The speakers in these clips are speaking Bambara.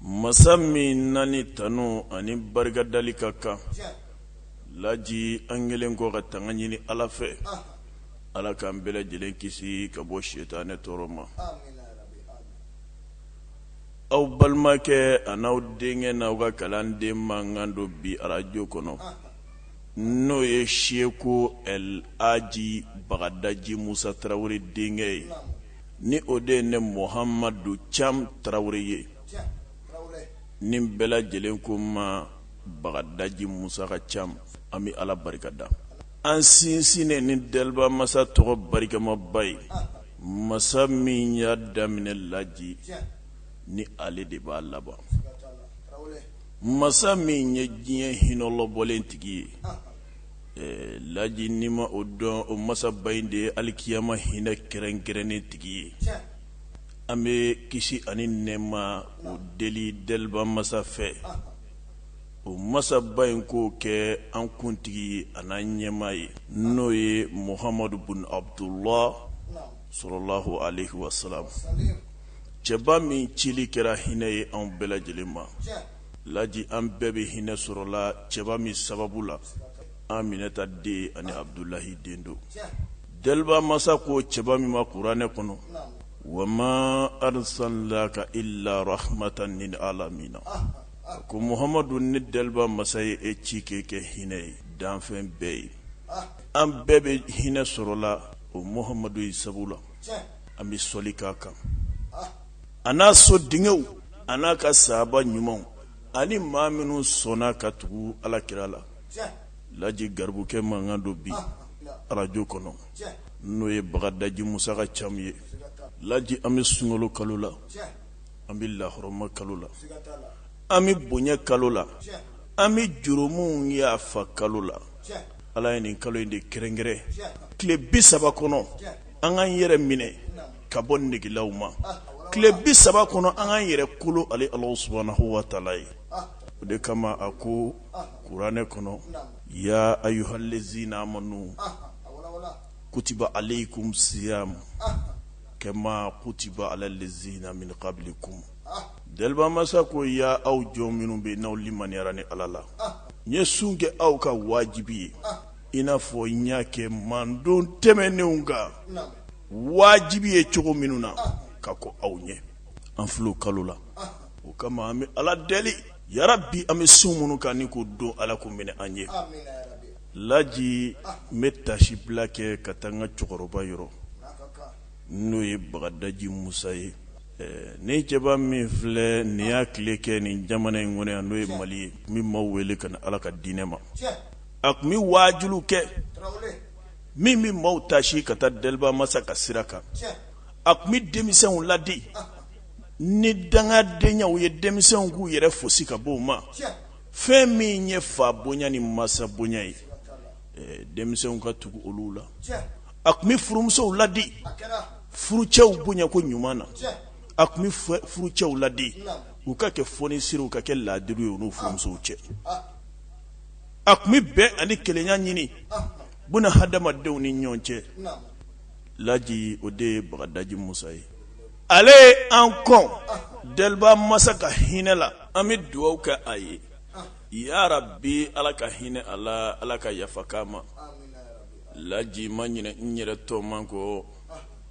masa min na ni tanu ani barikadali ka kan laji an kɛlen kɔ ka tanga ɲini ala fɛ ala k'an bɛɛ lajɛlen kisi ka bɔ sitanɛ tɔɔrɔ ma aw balimakɛ an'aw denkɛ n'aw ka kalanden mankan don bi arajo kɔnɔ n'o ye seku laji bagadaji musa tarawele denkɛ ye ni o de ye ne muhamadu camu tarawele ye ni bɛɛ lajɛlen ko n ma bagadaji musa ka camu an bɛ ala barikada an sinsin ni deliba masa tɔgɔ barikamaba ye masa min y'a daminɛ laji ni ale de b'a laban masa min ye diɲɛ hinɛ lɔbɔlen tigi ye Ɛɛ laji ni ma o dɔn o masaba in de ye alikiyama hinɛ kɛrɛnkɛrɛnnen tigi ye an bɛ kisi ani nɛma o deli deliba masa fɛ o masaba in k'o kɛ an kuntigi an'an ɲɛmaa ye n'o ye muhamadu bin abudula salalahu aleyi wasalamu cɛba min cili kɛra hinɛ ye an bɛɛ lajɛlen ma laji an bɛɛ bɛ hinɛ sɔrɔla cɛba min sababu la aminata den ani abudulayi den don deliba masa ko cɛba min ma kuranɛ kɔnɔ wa ma arisalinaka ila rahamatan lil alamina a ko muhamadu ne deliba masa ye e ci k'i kɛ hinɛ ye danfɛn bɛɛ ye an bɛɛ bɛ hinɛ sɔrɔla o muhamadu in sababu la an bɛ sɔli k'a kan an'a so denkɛw an'a ka sahaba ɲumanw ani maa minnu sɔnna ka tugu ala kira la laji garibukɛ mankan don bi arajo kɔnɔ n'o ye bagadaji musa ka camu ye laji an bɛ sunkalo kalo la an bɛ lahɔrɔma kalo la an bɛ bonya kalo la an bɛ jurumuw yafa kalo la ala ye nin kalo in de kɛrɛnkɛrɛn tile bi saba kɔnɔ an k'an yɛrɛ minɛ ka bɔ negelaw ma tile bi saba kɔnɔ an k'an yɛrɛ kolo ala subuhanahu wa taala ye o de kama a ko kuranɛ kɔnɔ ya ayuhalizina amanu kutiba alayikumu siyamu kama kutiba alalizina min kabilikum deliba masa ko ya aw jɔn minnu bɛ n'aw limaniyara ni ala la n ye sun kɛ aw kan wajibi ye i n'a fɔ n y'a kɛ manton tɛmɛnenw kan wajibi ye cogo minnu na ka kɔn aw ɲɛ an filɛ o kalo la o kama an bɛ ala deli yarabi an bɛ sun minnu kan ni ko don ala k'o minɛ an ye laji n bɛ tasi bila kɛ ka taa an ka cɛkɔrɔba yɔrɔ n'o ye bagadaji musa ye nin cɛba min filɛ nin y'a tile kɛ nin jamana in kɔnɔ yan n'o ye mali ye min maa wele ka ala ka diinɛ ma a tun bɛ waaju kɛ min bɛ maaw taasi ka taa deliba masa ka sira kan a tun bɛ denmisɛnw ladi ni dangadenyaw ye denmisɛnw k'u yɛrɛ foosi ka bɔ a ma fɛn min ye fa bonya ni masa bonya ye denmisɛnw ka tugu olu la a tun bɛ furumusow ladi furucɛw bonya ko ɲuman na a tun bɛ furucɛw ladi u ka kɛ fonisiri u ka kɛ ladiri ye u n'u furumusow cɛ a tun bɛ bɛn ani kelenya ɲini buna hadamadenw ni ɲɔgɔn cɛ laji o de ye bagadaji musa ye ale ye an kɔn deliba masa ka hinɛ la an bɛ dugawu kɛ a ye yarabi ala ka hinɛ a la ala ka yafa k'a ma laji n ma ɲinɛ n yɛrɛ tɔma kɔ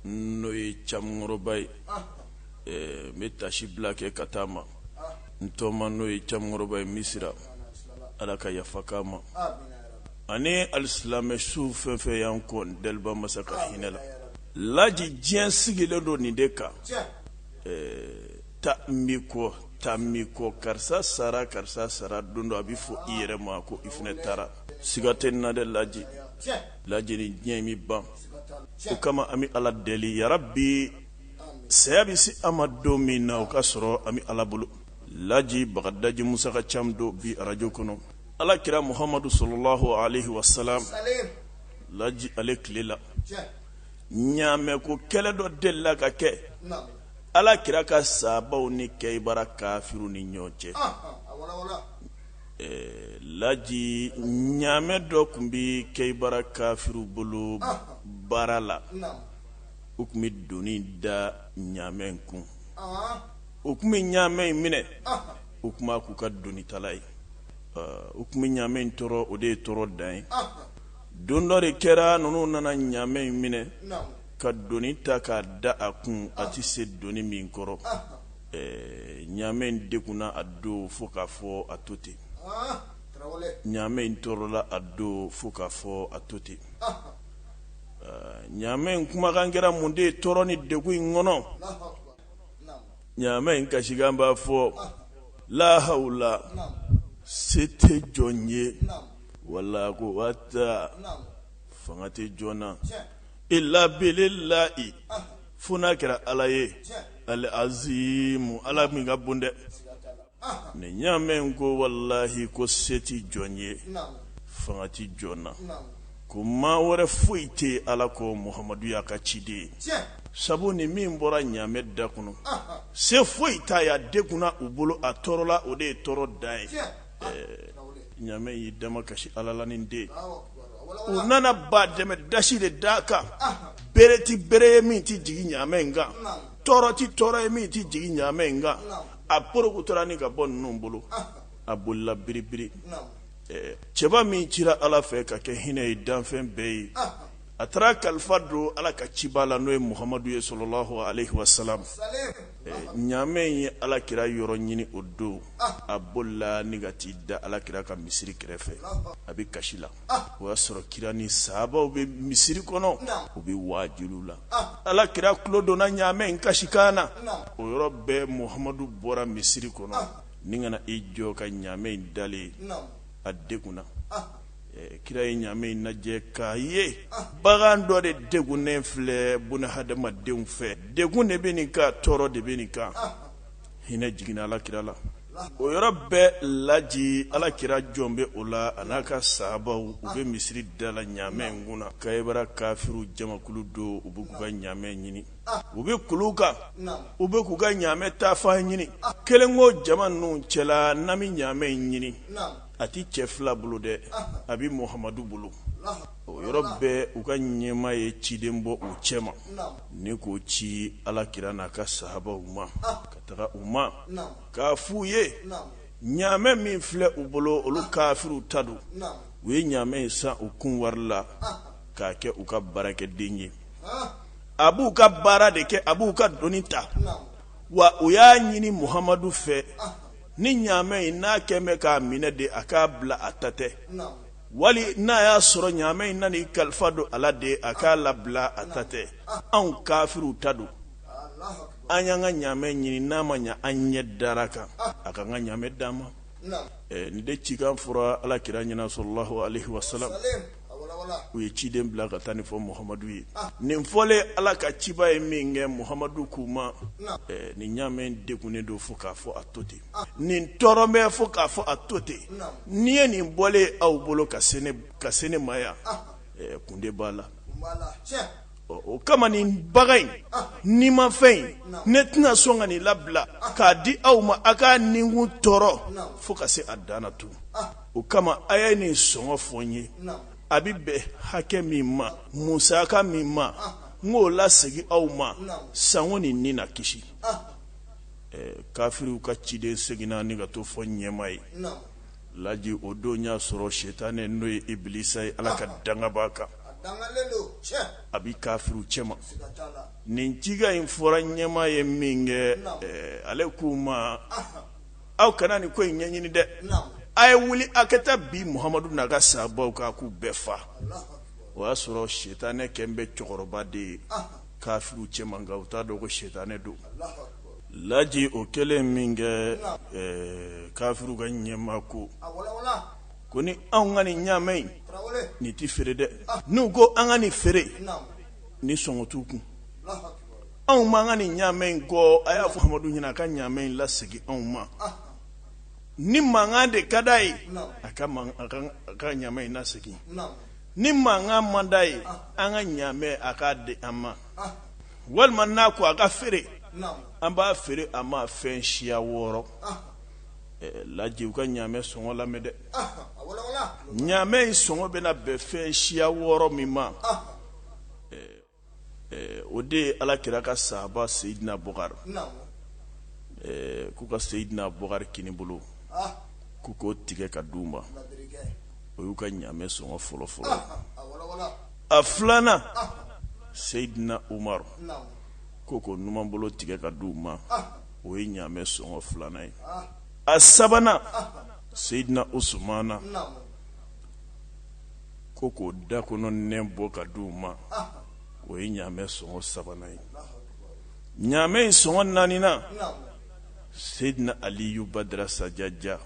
n'o ye cɛkɔrɔba ye n bɛ taasi bila kɛ ka taa a ma n tɔma n'o ye cɛkɔrɔba ye misira ala ka yafa a ma ani alisilamɛ su fɛn o fɛn y'an kɔn daba masa ka hinɛ la laji diɲɛ sigilen don nin de kan taa n b'i kɔ taa n b'i kɔ karisa sara karisa sara don dɔ a bɛ fɔ i yɛrɛ ma ko i fana taara siga tɛ a la dɛ laji lajɛ diɲɛ bɛ ban o kama an bɛ ala deli yarabi saya bɛ se an ma don min na o ka sɔrɔ an bɛ ala bolo laji bagadaji musa ka caman don bi arajo kɔnɔ ala kira muhamadu salalahu alayihi wasalamu laji ale tile la ɲamɛ ko kɛlɛ dɔ delila ka kɛ ala kira ka sabaw ni keyibara kafiri ni ɲɔgɔn cɛ laji ɲamɛ dɔ tun bɛ keyibara kafiriw bolo baara la u tun bɛ doni da ɲamɛ kun u tun bɛ ɲamɛ in minɛ u tun b'a k'u ka donitala ye u tun bɛ ɲamɛ in tɔɔrɔ o de ye tɔɔrɔ dan ye don dɔ de kɛra ninnu nana ɲamɛ in minɛ ka doni ta k'a da a kun a tɛ se doni min kɔrɔ ɲamɛ in dɛgunna o don fo k'a fɔ a to ten ɲamɛ in tɔɔrɔla o don fo k'a fɔ a to ten ɲamɛ in kumakan kɛra mun de ye tɔɔrɔ ni degun in kɔnɔ ɲamɛ in kasikan b'a fɔ lahawla se tɛ jɔn ye wala kuwata fanga tɛ jɔn na ila bilahi fo n'a kɛra ala ye alazimu ala min ka bon dɛ ni ɲamɛ in ko walahi ko se tɛ jɔn ye fanga tɛ jɔn na ko maa wɛrɛ foyi tɛ ala kɔ muhamadu y'a ka ciden ye sabu ni min bɔra ɲamɛ da kɔnɔ se foyi t'a y'a degunna u bolo a tɔɔrɔla o de ye tɔɔrɔ dan ye ɲamɛ y'i damakasi ala la nin de u nana ba dɛmɛ dasi de da kan bere tɛ bere ye min tɛ jigin ɲamɛ in kan tɔɔrɔ ti tɔɔrɔ ye min ti jigin ɲaamɛ in kan a porokotora ni ka bɔ ninnu bolo a bolila biribiri cɛba min cira ala fɛ ka kɛ hinɛ ye danfɛn bɛɛ ye a taara kalifa don ala ka ciba la n'o ye muhamadu ye salalahu aleyi wasalam ɲaamɛ in ye ala kira yɔrɔ ɲini o don a bolila ni ka t'i da ala kira ka misiri kɛrɛfɛ a bɛ kasi la o y'a sɔrɔ kira ni sabaw bɛ misiri kɔnɔ u bɛ waajuli la ala kira tulo donna ɲamɛ in kasikan na o yɔrɔ bɛɛ muhamadu bɔra misiri kɔnɔ ni ka na i jɔ ka ɲamɛ in dalen a degunna kira ye ɲamɛ in lajɛ k'a ye bagan dɔ de degunnen filɛ bunadamadenw fɛ degun de bɛ nin kan tɔɔrɔ de bɛ nin kan hinɛ jiginna ala kira la o yɔrɔ bɛɛ laji ala kira jɔlen bɛ o la a n'a ka sabaw u bɛ misiri da la ɲamɛ in kunna kayibara kafiriw jamakulu don u bɛ k'u ka ɲamɛ ɲini u bɛ kulu kan u bɛ k'u ka ɲamɛ taafan ɲini kelen ko jama ninnu cɛla n'an bɛ ɲamɛ in ɲini a tɛ cɛ fila bolo dɛ a bɛ muhamadu bolo o yɔrɔ bɛɛ u ka ɲɛmaa ye ciden bɔ u cɛ ma ni k'o ci ala kira n'a ka saabaw ma ka taga u ma k'a f'u ye ɲaamɛ min filɛ u bolo olu kafiriw ta don u ye ɲaamɛ in san u kun wari la k'a kɛ u ka baarakɛden ye a b'u ka baara de kɛ a b'u ka doni ta wa u y'a ɲini muhamadu fɛ ni ɲaamɛ in n'a kɛlen bɛ k'a minɛ de a k'a bila a ta tɛ wali n'a y'a sɔrɔ ɲaamɛ in nana kalifa don a la de a k'a labila a ta tɛ anw kafiriw ta don an y'an ka ɲaamɛ ɲini n'a ma ɲɛ an ɲɛ dar'a kan a k'an ka ɲaamɛ d'an ma nin de cikan fɔra ala kira ɲɛna salalahu aleyi wasalam u ye ciden bila ka taa nin fɔ muhamadu ye nin fɔlen ala ka ciba ye min kɛ muhamadu k'u ma nin ɲamɛ degunnen don fo k'a fɔ a to ten nin tɔɔrɔlen bɛ fo k'a fɔ a to ten n'i ye nin bɔlen ye aw bolo ka se ne ma yan kun de b'a la o kama nin bagan in nimafɛn in ne tɛna sɔn ka nin labila k'a di aw ma aw ka nin kun tɔɔrɔ fo ka se a dan na tun o kama a ye nin sɔngɔ fɔ n ye a bɛ bɛn hakɛ min ma musaka min ma n k'o lasegin aw ma sanko nin ni na kisi kafiriw ka ciden seginna ni ka t'o fɔ ɲɛmaa ye laji o don y'a sɔrɔ sitanɛ n'o ye ibilisa ye ala ka danga b'a kan a bɛ kafiriw cɛma nin cikan in fɔra ɲɛmaa ye min kɛ ale k'u ma aw kana nin ko in ɲɛɲini dɛ a ye wuli a ka taa bin muhamadu n'a ka sahabaw kan k'u bɛɛ faga o y'a sɔrɔ sitanɛ kɛlen bɛ cɛkɔrɔba de ye kafiriw cɛman kan u t'a dɔn ko sitanɛ don laji o kɛlen min kɛ ɛɛ kafiriw ka ɲɛmaa ko ko ni anw ka nin ɲamɛ in nin tɛ feere dɛ n'u ko an ka nin feere nin sɔngɔ t'u kun anw ma ka nin ɲamɛ in kɔ a y'a fɔ madu ɲini a ka ɲamɛ in lase anw ma ni mankan de ka d'a ye a ka ɲamɛ in lase ni mankan man d'a ye an ka ɲamɛ a k'a di an ma walima n'a ko an k'a feere an b'a feere a ma fɛn siya wɔɔrɔ laji u ka ɲamɛ sɔngɔ lamɛn dɛ ɲamɛ in sɔngɔ bɛna bɛn fɛn siya wɔɔrɔ min ma o de ye ala kira ka sahaba seyidina bukari k'u ka seyidina bukari kininbolo k'u k'o tigɛ k'a d'u ma o y'u ka ɲamɛ sɔngɔ fɔlɔ fɔlɔ a filanan seyidina umaru ko k'o numanbolo tigɛ k'a d'u ma o ye ɲamɛ sɔngɔ filanan ye a sabanan seyidina usumana ko k'o da kɔnɔ nɛn bɔ k'a di u ma o ye ɲamɛ sɔngɔ sabanan ye ɲamɛ in sɔngɔ naaninan seyidina aliyu badara sajaja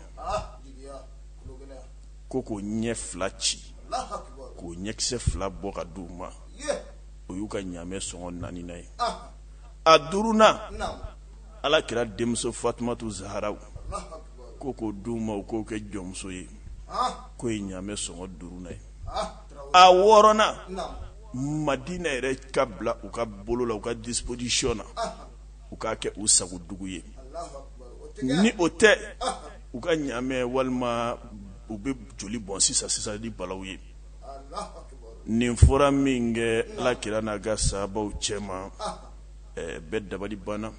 ko k'o ɲɛ fila ci k'o ɲɛkisɛ fila bɔ k'a di u ma o y'u ka ɲamɛ sɔngɔ naaninan ye a duurunan ala kira denmuso fatumatu zahara ko k'o d'u ma k'o kɛ jɔnmuso ye k'o ye ɲamɛ sɔngɔ duurunnan ye a wɔɔrɔnan madina yɛrɛ ka bila u ka bolo la u ka dispozisiyɔn na u k'a kɛ u sago dugu ye ni o tɛ u ka ɲamɛ walima u bɛ joli bɔn sisan sisan ni balaw ye nin fɔra min kɛ ala kira n'a ka sabaw cɛma bɛɛ dabali banna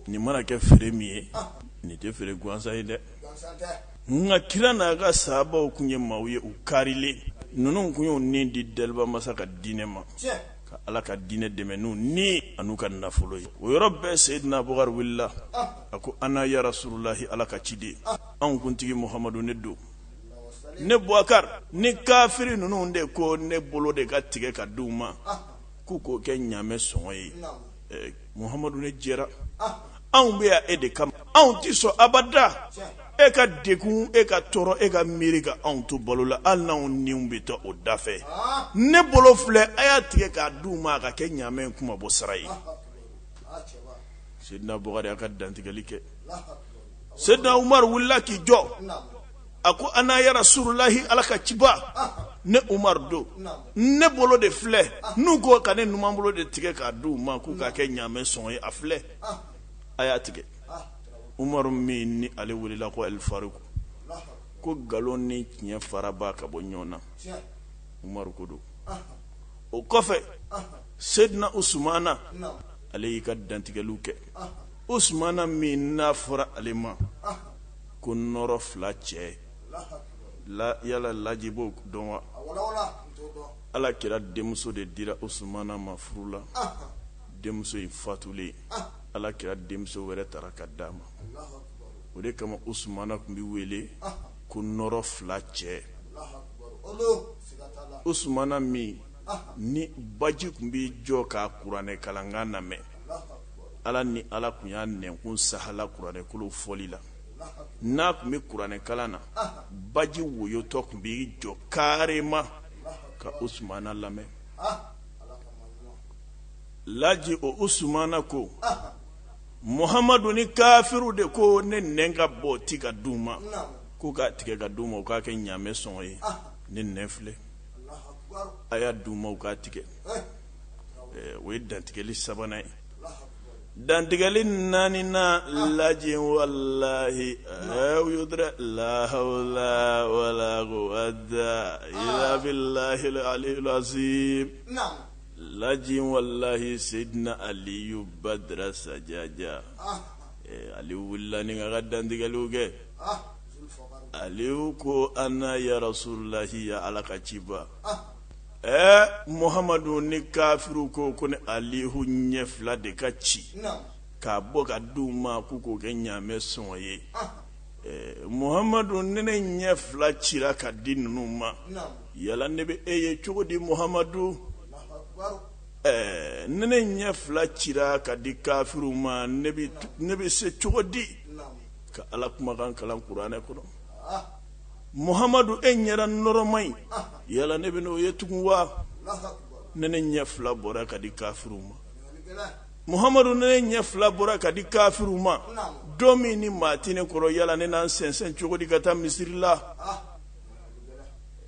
nin mana kɛ feere min ye nin tɛ feere gansan ye dɛ ala kira n'a ka sabaw tun ye maaw ye u karilen ninnu tun y'u ni di daba masa ka diinɛ ma ka ala ka diinɛ dɛmɛ n'u ni an'u ka nafolo ye o yɔrɔ bɛɛ seyidina bukari wulila a ko ana ya rasululahi ala ka ciden anw kuntigi muhamadu ne don ne bukari ni kafiri ninnu de ko ne bolo de ka tigɛ ka di u ma k'u k'o kɛ ɲamɛ sɔngɔ ye Muhamadu ne jɛra anw bɛ yan e de kama anw tɛ sɔn abada e ka degun e ka tɔɔrɔ e ka miiri ka anw to balo la hali n'anw ni bɛ to o dafɛ ne bolo filɛ a y'a tigɛ k'a di u ma a ka kɛ ɲamɛ kunmabɔ sara ye sedina bukari y'a ka dantigɛli kɛ sedina umaru wulila k'i jɔ a ko ana ya rasululahi ala ka ciba ne umaru don ne bolo de filɛ n'u ko ka ne numan bolo de tigɛ k'a di u ma k'u k'a kɛ ɲaamɛ sɔngɔ ye a filɛ a y'a tigɛ umaru min ni ale welela ko alifaruku ko nkalon ni tiɲɛ farabaa ka bɔ ɲɔgɔn na umaru ko don o kɔfɛ sedina usumana ale y'i ka dantigɛliw kɛ usumana min n'a fɔra ale ma ko nɔɔrɔ fila cɛ yala laji b'o dɔn wa ala kira denmuso de dira usumana ma furu la denmuso in fatulen ala kira denmuso wɛrɛ tara k'a d'a ma o de kama usumana tun bɛ wele ko nɔɔrɔ fila cɛ usumana min ni baji tun bɛ jɔ ka kuranɛ kalankan lamɛn ala ni ala tun y'a nɛnkun sahala kuranɛkolow fɔli la n'a tun bɛ kuranɛkalan na baji woyotɔ tun bɛ i jɔ karima ka usumana lamɛn laji o usumana ko muhamadu ni kafiriw de ko ne nɛn ka bɔti ka d'u ma k'u k'a tigɛ ka d'u ma u k'a kɛ ɲamɛ sɔngɔ ye ne nɛn filɛ a y'a d'u ma u k'a tigɛ o ye dantigɛli sabanan ye dantigɛli naaninan lajɛ walahi u y'o dɛ lahawula wala wada ilabilahi alilazim lajɛ walahi sedina aliyu badara sajaja ali wulila ni ka dantigɛliw kɛ ale ko ana ya rasululahi ya ala ka ciba ɛɛ muhamadu ni kafiriw ko ko ne alihu ɲɛ fila de ka ci k'a bɔ ka di u ma k'u k'o kɛ ɲaamɛ sɔngɔ ye ɛɛ muhamadu ni ne ɲɛ fila cira ka di ninnu ma yala ne bɛ e ye cogo di muhamadu ɛɛ ni ne ɲɛ fila cira ka di kafiriw ma ne bɛ ne bɛ se cogo di ka ala kumakan kalan kuranɛ kɔnɔ Muhamadu e ɲɛda nɔrɔma in yala ne bɛna o ye tugun wa ni ne ɲɛ fila bɔra ka di kafiriw ma Muhamadu ni ne ɲɛ fila bɔra ka di kafiriw ma don min ni maa tɛ ne kɔrɔ yala ne na n sɛnsɛn cogo di ka taa misiri la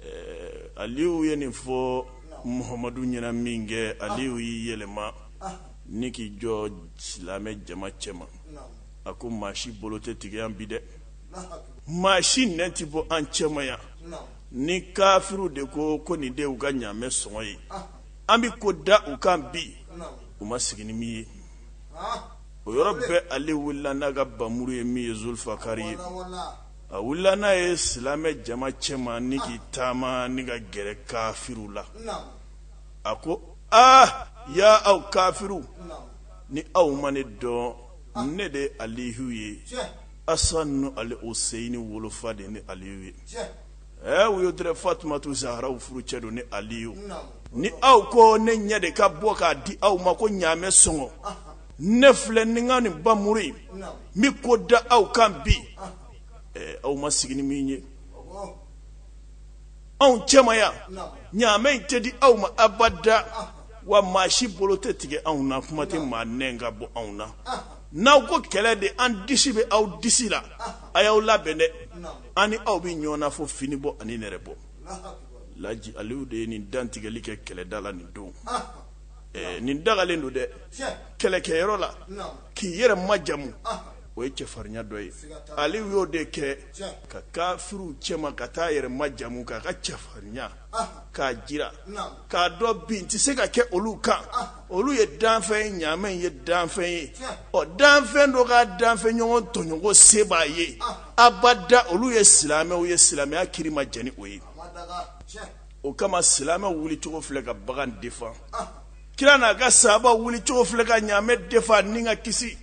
ɛɛ Aliyu ye nin fɔ Muhamadu ɲɛna min kɛ Aliyu y'i yɛlɛma ni k'i jɔ silamɛ jama cɛma a ko maa si bolo tɛ tigɛ an bi dɛ maa si ɲɛ tɛ bɔ an cɛma yan ni kafiriw de ko ko nin de u ka ɲaamɛ sɔngɔ ye an bɛ ko da u kan bi u ma sigi ni min ye o yɔrɔ bɛɛ ale wulila n'a ka bamuru ye min ye zulufakari ye a wulila n'a ye silamɛ jama cɛma ni k'i taama ni ka gɛrɛ kafiriw la a ko aa ya aw kafiriw ni aw ma ne dɔn ne de ye alihu ye asan ni aluseyini wolofa de ne aliyu ye ɛ u y'o dɛrɛ fatumatu zahara furucɛ don ne aliyu ni aw ko ne ɲɛ de ka bɔ k'a di aw ma ko ɲaamɛ sɔngɔ ne filɛ ni n ka nin bamuru ye n bɛ ko da aw kan bi ɛ aw ma sigi ni min ye anw cɛma yan ɲaamɛ in tɛ di aw ma abada wa maa si bolo tɛ tigɛ anw na kuma tɛ maa ɲɛ ka bɔ anw na n'aw ko kɛlɛ de an disi bɛ aw disi la a y'aw labɛn dɛ an ni aw bɛ ɲɔgɔn na fɔ fini bɔ ani nɛrɛ bɔ laji ale de ye nin dantigɛli kɛ kɛlɛda la nin don nin dagalen don dɛ kɛlɛkɛyɔrɔ la k'i yɛrɛ majamu o ye cɛfarinya dɔ ye ale y'o de kɛ ka kafiriw cɛma ka taa yɛrɛ majamu k'a ka cɛfarinya k'a jira k'a dɔ bin tɛ se ka kɛ olu kan olu ye danfɛn ye ɲaamɛ ye danfɛn ye ɔ danfɛn dɔ ka danfɛn ɲɔgɔn tɔɲɔ ko se b'a ye abada olu ye silamɛw ye silamɛya kiri ma jɛn ni o ye o kama silamɛw wulicogo filɛ ka bagan defan kira n'a ka saba wuli cogo filɛ ka ɲaamɛ defa ni ka kisi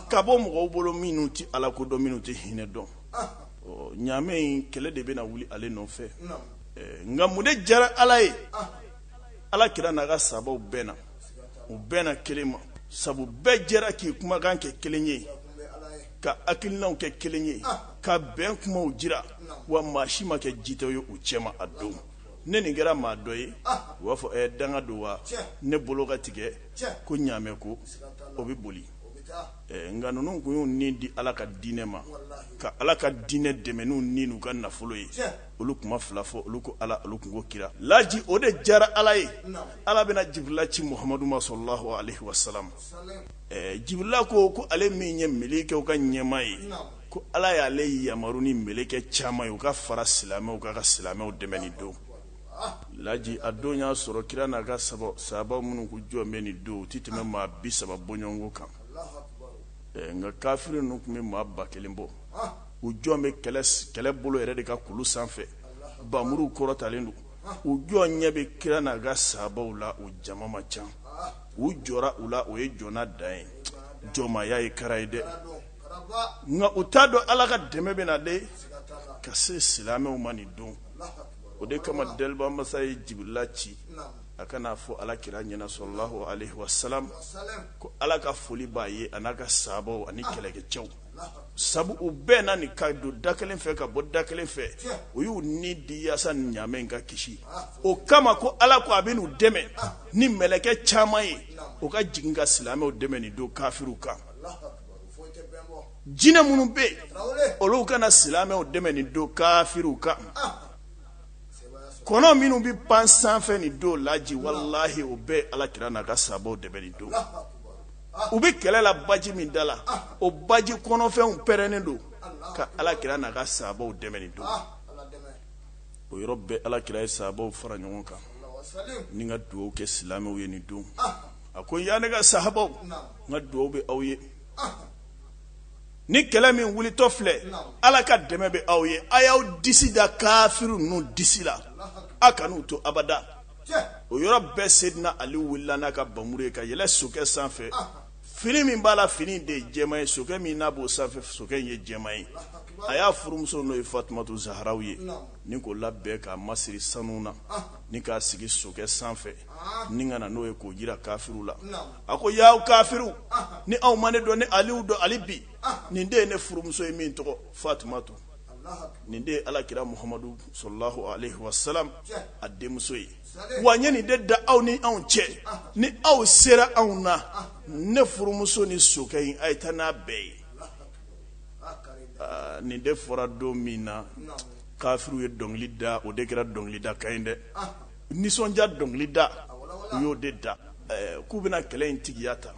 ka bɔ mɔgɔw bolo minnu tɛ ala ko dɔn minnu tɛ hinɛ dɔn ɲaamɛ in kɛlɛ de bɛna wuli ale nɔfɛ nka mun de jara ala ye ala kira n'a ka sabaw bɛnna u bɛnna kelen ma sabu bɛɛ jɛra k'i kumakan kɛ kelen ye ka hakilinaw kɛ kelen ye ka bɛn kumaw jira wa maa si ma kɛ jitɔ ye u cɛma a don ni nin kɛra maa dɔ ye u b'a fɔ ɛ danga don wa ne bolo ka tigɛ ko ɲaamɛ ko o bɛ boli nka ninnu tun y'u ni di ala ka diinɛ ma ka ala ka diinɛ dɛmɛ n'u ni n'u ka nafolo ye olu kuma fila fɔ olu ko ala olu tun ko kira laji o de jara ala ye ala bɛna jibirila ci muhamadu ma salalahu alayhi wa salam jibirila ko ko ale min ye mɛlɛkɛw ka ɲɛmaa ye ko ala y'ale yamaru ni mɛlɛkɛ caman ye u ka fara silamɛw kan ka silamɛw dɛmɛ nin don laji a don y'a sɔrɔ kira n'a ka sabaw sabaw minnu ko jɔn bɛ nin don u tɛ tɛmɛ maa bi saba bɔɲɔgɔnko kan nka kafiri ninnu tun bɛ maa ba kelen bɔ u jɔn bɛ kɛlɛ bolo yɛrɛ de ka kulu sanfɛ bamuruw kɔrɔtalen don u jɔn ɲɛ bɛ kira n'a ka sabaw la u jama ma ca u jɔnna u la o ye jɔnna dan ye jɔnmaya ye kara ye dɛ nka u t'a dɔn ala ka dɛmɛ bɛ na de ka se silamɛw ma nin don o de kama daliba masa ye jibirila ci a ka n'a fɔ ala kira ɲɛna salalahu alayhi wa salam ko ala ka foli b'a ye a n'a ka sabaw ani kɛlɛkɛcɛw sabu u bɛnna ni ka don da kelen fɛ ka bɔ da kelen fɛ u y'u ni di yaasa ni ɲaamɛ in ka kisi o kama ko ala ko a bɛn'u dɛmɛ ni mɛlɛkɛ caman ye u ka jigin ka silamɛw dɛmɛ nin don kafiriw kan jinɛ minnu bɛ yen olu ka na silamɛw dɛmɛ nin don kafiriw kan kɔnɔ minnu bɛ pan sanfɛ nin don laji walahi o bɛɛ ala kira n'a ka sabaw dɛmɛ nin don u bɛ kɛlɛ la baji min da la o baji kɔnɔfɛnw pɛrɛnnen don ka ala kira n'a ka sabaw dɛmɛ nin don o yɔrɔ bɛɛ ala kira ye sabaw fara ɲɔgɔn kan ni ka dugawu kɛ silamɛw ye nin don a ko ya ne ka sahabaw n ka dugaw bɛ aw ye ni kɛlɛ min wulitɔ filɛ ala ka dɛmɛ bɛ aw ye a y'aw disi da kafiri ninnu disi la a kan'u to abada o yɔrɔ bɛɛ sedina ali wulila n'a ka bamuru ye ka yɛlɛ sokɛ sanfɛ fini min b'a la fini de ye jɛma ye sokɛ min n'a b'o sanfɛ sokɛ in ye jɛma ye a y'a furumuso n'o ye fatumatu zaharaw ye ni k'o labɛn k'a masiri sanu na ni k'a sigi sokɛ sanfɛ ni ka na n'o ye k'o jira kafiriw la a ko yaa kafiriw ni aw ma ne dɔn ne ali don ali bi nin de ye ne furumuso ye min tɔgɔ fatumatu nin de ala kira muhamadu sɔrɔlah wa sa a denmuso ye wa n ye nin de da aw ni anw cɛ ni aw sera anw na ne furumuso ni sokɛ in a ye taa n'a bɛɛ ye nin de fɔra don min na kafiriw ye dɔnkili da o de kɛra dɔnkilida ka ɲi dɛ nisɔndiya dɔnkili da u y'o de da k'u bɛna kɛlɛ in tigiya ta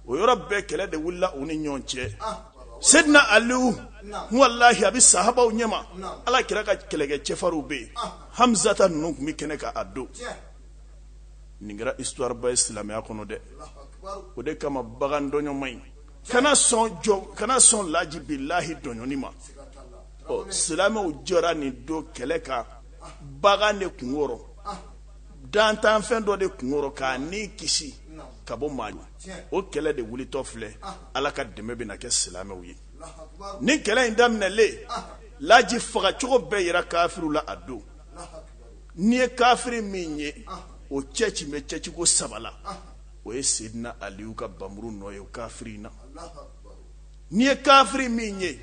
o yɔrɔ bɛɛ kɛlɛ de wulila u ni ɲɔgɔn cɛ sedina aliu n'layi a bɛ saabaw ɲɛma ala kira ka kɛlɛkɛ cɛfarinw bɛ yen hamisata ninnu tun bɛ kɛnɛ kan a don nin kɛra ituwaba ye silamɛya kɔnɔ dɛ o de kama bagan dɔnɲɔgɔnma in kana sɔn jɔn kana sɔn lajibi lahi dɔnni ma ɔ silamɛw jɔra nin don kɛlɛ kan bagan de kunkɔrɔ dantanfɛn dɔ de kunkɔrɔ k'a ni kisi ka bɔ ma o kɛlɛ de wulitɔ filɛ ala ka dɛmɛ bɛna kɛ silamɛw ye ni kɛlɛ in daminɛlen laji fagacogo bɛɛ jira kafiriw la a don n'i ye kafiri min ye o cɛci bɛ cɛciko saba la o ye sedina aliu ka npanmuru nɔ ye o kafiri in na N'i ye kafiri min ye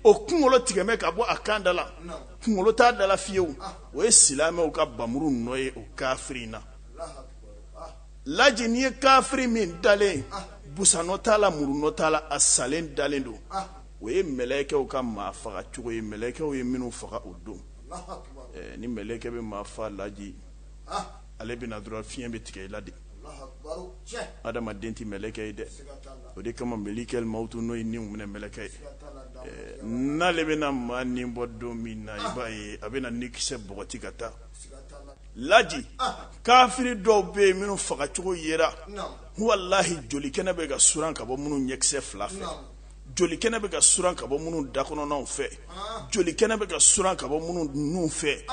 o kunkolo tigɛlen ka bɔ a kan da la kunkolo t'a da la fiyewu o ye silamɛw ka npanmuru nɔ ye o kafiri in na laji n'i ye kafiri min dalen busan nɔ t'a la muru nɔ t'a la a salen dalen don o ye mɛlɛkɛw ka maa fagacogo ye mɛlɛkɛw ye minnu faga o don ni mɛlɛkɛ bɛ maa faa laji ale bɛ na dɔrɔn fiɲɛ bɛ tigɛ i la de adamaden tɛ mɛlɛkɛ ye dɛ o de kama malikulimawutu n'o ye niminɛ mɛlɛkɛ ye n'ale bɛna maa ni bɔ don min na i b'a ye a bɛna ni kisɛ bɔgɔti ka taa laji kafiri dɔw bɛ yen minnu fagacogo yera walahi joli kɛnɛ bɛ ka suran ka bɔ minnu ɲɛkisɛ fila fɛ joli kɛnɛ bɛ ka suran ka bɔ minnu da kɔnɔnaw fɛ joli kɛnɛ bɛ ka suran ka bɔ minnu nunw fɛ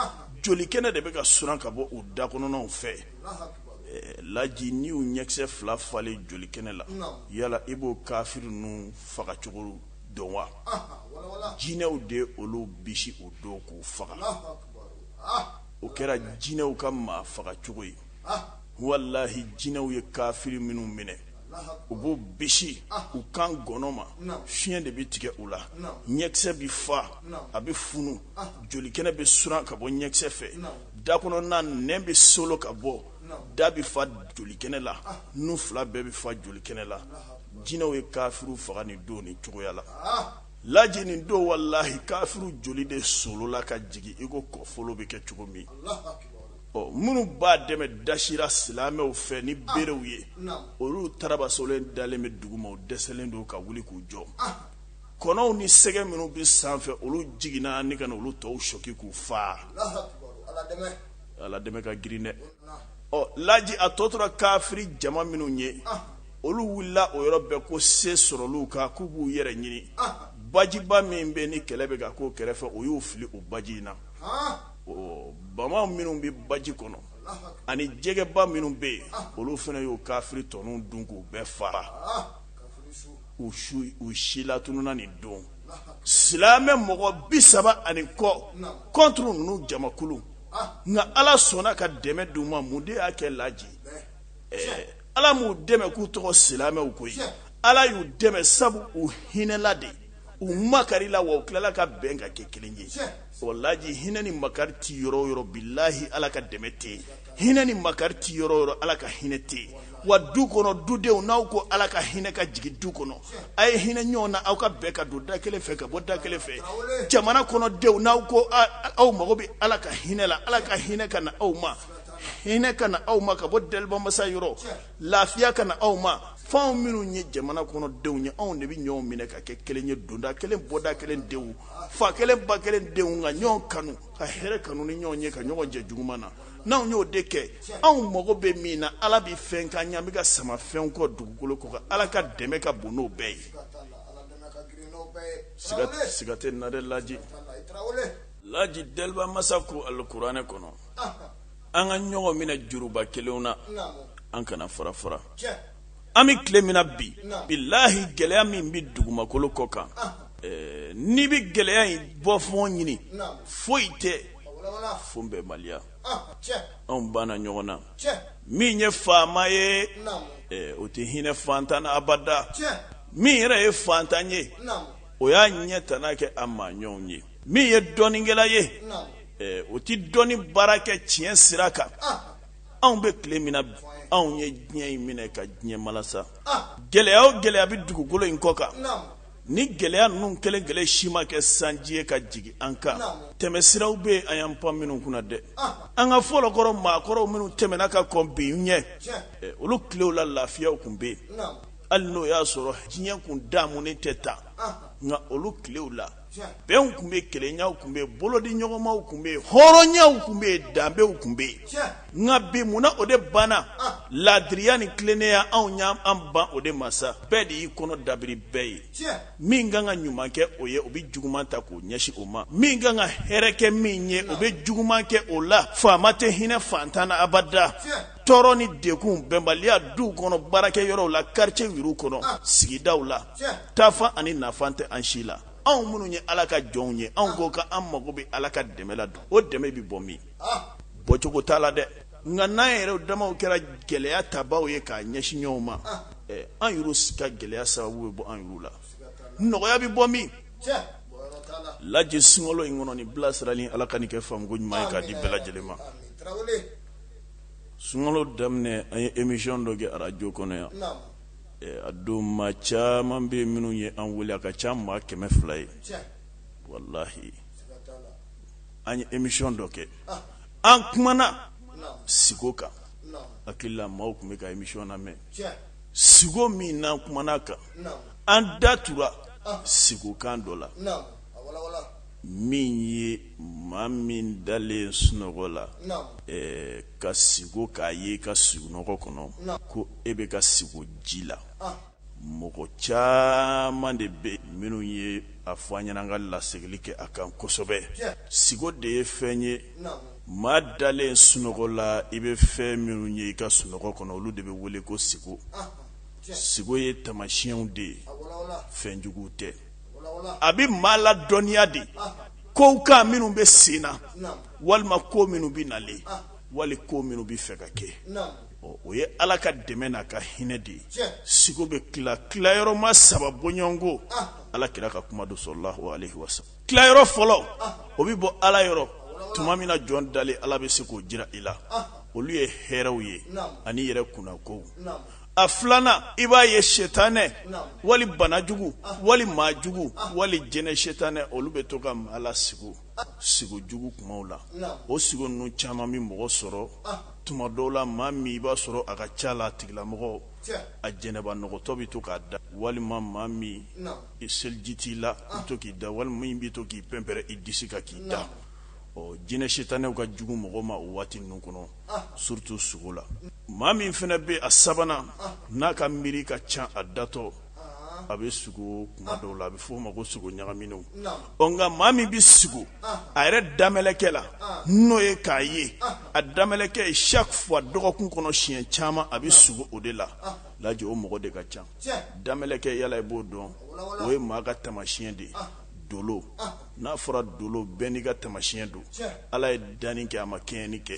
joli kɛnɛ de bɛ ka suran ka bɔ u da kɔnɔnaw fɛ laji ni u ɲɛkisɛ fila falen joli kɛnɛ la yala i b'o kafiri ninnu fagacogo dɔn wa jinɛw de y'olu bisi o don k'u faga o kɛra jinɛw ka maa fagacogo ye walahi jinɛw ye kafiri minnu minɛ u b'u bisi u kan ngɔnɔ ma fiɲɛ de bɛ tigɛ u la ɲɛkisɛ bɛ fa a bɛ funu jolikɛnɛ bɛ suran ka bɔ ɲɛkisɛ fɛ da kɔnɔna nɛn bɛ solo ka bɔ da bɛ fa jolikɛnɛ la nun fila bɛɛ bɛ fa jolikɛnɛ la jinɛw ye kafiriw faga nin don nin cogoya la laji nin don walahi kafiriw joli de solola ka jigin iko kɔfolo bɛ kɛ cogo min minnu b'a dɛmɛ dasira silamɛw fɛ ni ah, berew ye olu tarabasolen dalen bɛ dugu ma dɛsɛlen don ka wuli k'u jɔ ah. kɔnɔw ni sɛgɛ minnu bɛ sanfɛ olu jiginna ni ka na olu tɔw sɔki k'u faa ala dɛmɛ ka girin dɛ ɔ laji a tɔ tora kafiri jama minnu ye ah. olu wulila o yɔrɔ bɛɛ ko se sɔrɔlu kan k'u b'u yɛrɛ ɲini bajiba min bɛ ni kɛlɛ bɛ ka k'o kɛrɛfɛ u y'u fili o baji in na bama minnu bɛ baji kɔnɔ ani jɛgɛba minnu bɛ yen olu fana y'o kafiri tɔ ninnu dun k'u bɛɛ faga u silatununna nin don silamɛ mɔgɔ bi saba ani kɔ kɔntri ninnu jamakulu nka ala sɔnna ka dɛmɛ d'u ma mun de y'a kɛ laji ala m'u dɛmɛ k'u tɔgɔ silamɛw koyi ala y'u dɛmɛ sabu u hinɛla de ye u makarila wa u tilala ka bɛn ka kɛ kelen ye o laji hinɛ ni makari tɛ yɔrɔ yɔrɔ bilahi ala ka dɛmɛ tɛ yen hinɛ ni makari tɛ yɔrɔ yɔrɔ ala ka hinɛ tɛ yen wa du kɔnɔ dudenw n'aw ko ala ka hinɛ ka jigin du kɔnɔ a ye hinɛ ɲɔgɔn na aw ka bɛn ka don da kelen fɛ ka bɔ da kelen fɛ jamana kɔnɔ denw n'aw ko aw mago bɛ ala ka hinɛ la ala ka hinɛ ka na aw ma hinɛ ka na aw ma ka bɔ daliba masa yɔrɔ lafiya ka na aw ma f'anw minnu ye jamana kɔnɔ denw ye anw de bɛ ɲɔgɔn minɛ ka kɛ kelen ye donda kelen bɔda kelen denw fa kelen ba kelen denw ka ɲɔgɔn kanu ka hɛrɛ kanu ni ɲɔgɔn ye ka ɲɔgɔn jɛ juguman na n'anw y'o de kɛ anw mago bɛ min na ala bɛ fɛn ka ɲɛ an bɛ ka sama fɛnw kɔ dugukolo kɔ kan ala ka dɛmɛ ka bon n'o bɛɛ ye siga t'a la dɛ laji laji daliba masa ko alikuranɛ kɔnɔ an ka ɲɔgɔn minɛ juruba kelen na an kana fara fara an bɛ tile min na bi bilahi gɛlɛya min bɛ dugumakolo kɔ kan n'i bɛ gɛlɛya in bɔ fan ɲini foyi tɛ fo bɛnbaliya anw banna ɲɔgɔn na min ye faama ye o tɛ hinɛ faantan na abada min yɛrɛ ye faantan ye o y'a ɲɛ tana kɛ a maa ɲɔgɔnw ye min ye dɔnnikɛla ye o tɛ dɔnni baara kɛ tiɲɛ sira kan anw bɛ tile min na anw ye diɲɛ in minɛ ka diɲɛ malasa gɛlɛya o gɛlɛya bɛ dugukolo in kɔ kan ni gɛlɛya ninnu kelen kelen si ma kɛ sanji ye ka jigin an kan tɛmɛsiraw bɛ yen an y'an pan minnu kunna dɛ an ka fɔlɔkɔrɔ maakɔrɔw minnu tɛmɛna ka kɔn bi ɲɛ olu tilew la lafiyaw tun bɛ yen hali n'o y'a sɔrɔ diɲɛ tun damu tɛ tan nka olu tilew la bɛnw tun bɛ kelenyaw tun bɛ bolodiɲɔgɔnmaw tun bɛ yen hɔrɔnyaw tun bɛ yen danbew tun bɛ yen nka bi munna o de banna laadiriya ni tilennenya anw y' an ban o de ma sa bɛɛ de y'i kɔnɔ dabiri bɛɛ ye min kan ka ɲuman kɛ o ye o bɛ juguman ta k'o ɲɛsin o ma min kan ka hɛrɛ kɛ min ye o bɛ juguman kɛ o la faama tɛ hinɛ faantan na abada tɔɔrɔ ni degun bɛnbaliya du kɔnɔ baarakɛ yɔrɔw la quartier yɛrɛw kɔnɔ sigidaw la taafan ani nafan tɛ an si la anw minnu ye Ala ka jɔnw ye anw ko k'an mago bɛ Ala ka dɛmɛ la o dɛmɛ bɛ bɔ min bɔcogo t'a la dɛ nka n'an yɛrɛw damaw kɛra gɛlɛya tabaaw ye k'a ɲɛsin ɲɔgɔn ma an yɛrɛw ka gɛlɛya sababu bɛ bɔ an yɛrɛw la nɔgɔya bɛ bɔ min laji sunkalo in kɔnɔ nin bilasirali in Ala ka nin kɛ faamuko ɲuman ye k'a di bɛɛ lajɛlen ma. sunkalo daminɛ an ye emisiyɔn dɔ kɛ arajo kɔnɔ yan a don maa caman bɛ minnu ye an wele a ka ca maa kɛmɛ fila ye walahi an ye emisiyɔn dɔ kɛ an kumana sigo kan hakili la maaw tun bɛ ka emisiyɔn lamɛn sigo min na an kumana kan an da tora sigo kan dɔ la min ye maa min dalen sunɔgɔ la ka sigo k'a ye i ka sunɔgɔ kɔnɔ ko e bɛ ka sigo ji la mɔgɔ caman de bɛ minnu ye a fɔ an ɲɛna an ka laseginni kɛ a kan kosɛbɛ sigo de ye fɛn ye maa dalen sunɔgɔ la i bɛ fɛn minnu ye i ka sunɔgɔ kɔnɔ olu de bɛ wele ko sigo sigo ye tamasiyɛnw de ye fɛnjugu tɛ a bɛ maa ladɔnniya de kow kan minnu bɛ senna walima ko minnu bɛ nalen wali ko minnu bɛ fɛ ka kɛ o ye ala ka dɛmɛ n'a ka hinɛ de ye sigo bɛ tila tilayɔrɔma saba bɔɲɔgɔnko ala kira ka kuma don salalahu aleyihi wasalam tilayɔrɔ fɔlɔ o bɛ bɔ ala yɔrɔ tuma min na jɔn dalen ala bɛ se k'o jira i la olu ye hɛrɛw ye ani yɛrɛ kunnakow a filanan i b'a ye setanɛ wali banajugu wali maajugu wali jinɛ setanɛ olu bɛ to ka maa lasigo sigo jugumanw la o sigo ninnu caman bɛ mɔgɔ sɔrɔ tuma dɔw la maa min i b'a sɔrɔ a ka ca la a tigilamɔgɔ a janaba nɔgɔtɔ bɛ to k'a da walima maa min i seliji t'i la i to k'i da walima min bɛ to k'i pɛnpɛrɛn i disi kan k'i da ɔ jinɛ setanɛw ka jugu mɔgɔ ma o waati ninnu kɔnɔ surtout sugo la maa min fana bɛ a sabanan n'a ka miiri ka ca a datɔ a bɛ sugo kuma dɔw la a bɛ f'o ma ko sugo ɲagaminen ɔ nka maa min bɛ sugo a yɛrɛ damɛlɛkɛ la n'o ye k'a ye a damɛlɛkɛ ye chaque fois dɔgɔkun kɔnɔ siɲɛ caman a bɛ sugo o de la laji o mɔgɔ de ka ca damɛlɛkɛ yalala i b'o dɔn o ye maa ka tamasiyɛn de ye do n'a fɔra dolo bɛɛ n'i ka tamasiɲɛ don ala ye danni kɛ a ma kɛɲɛni kɛ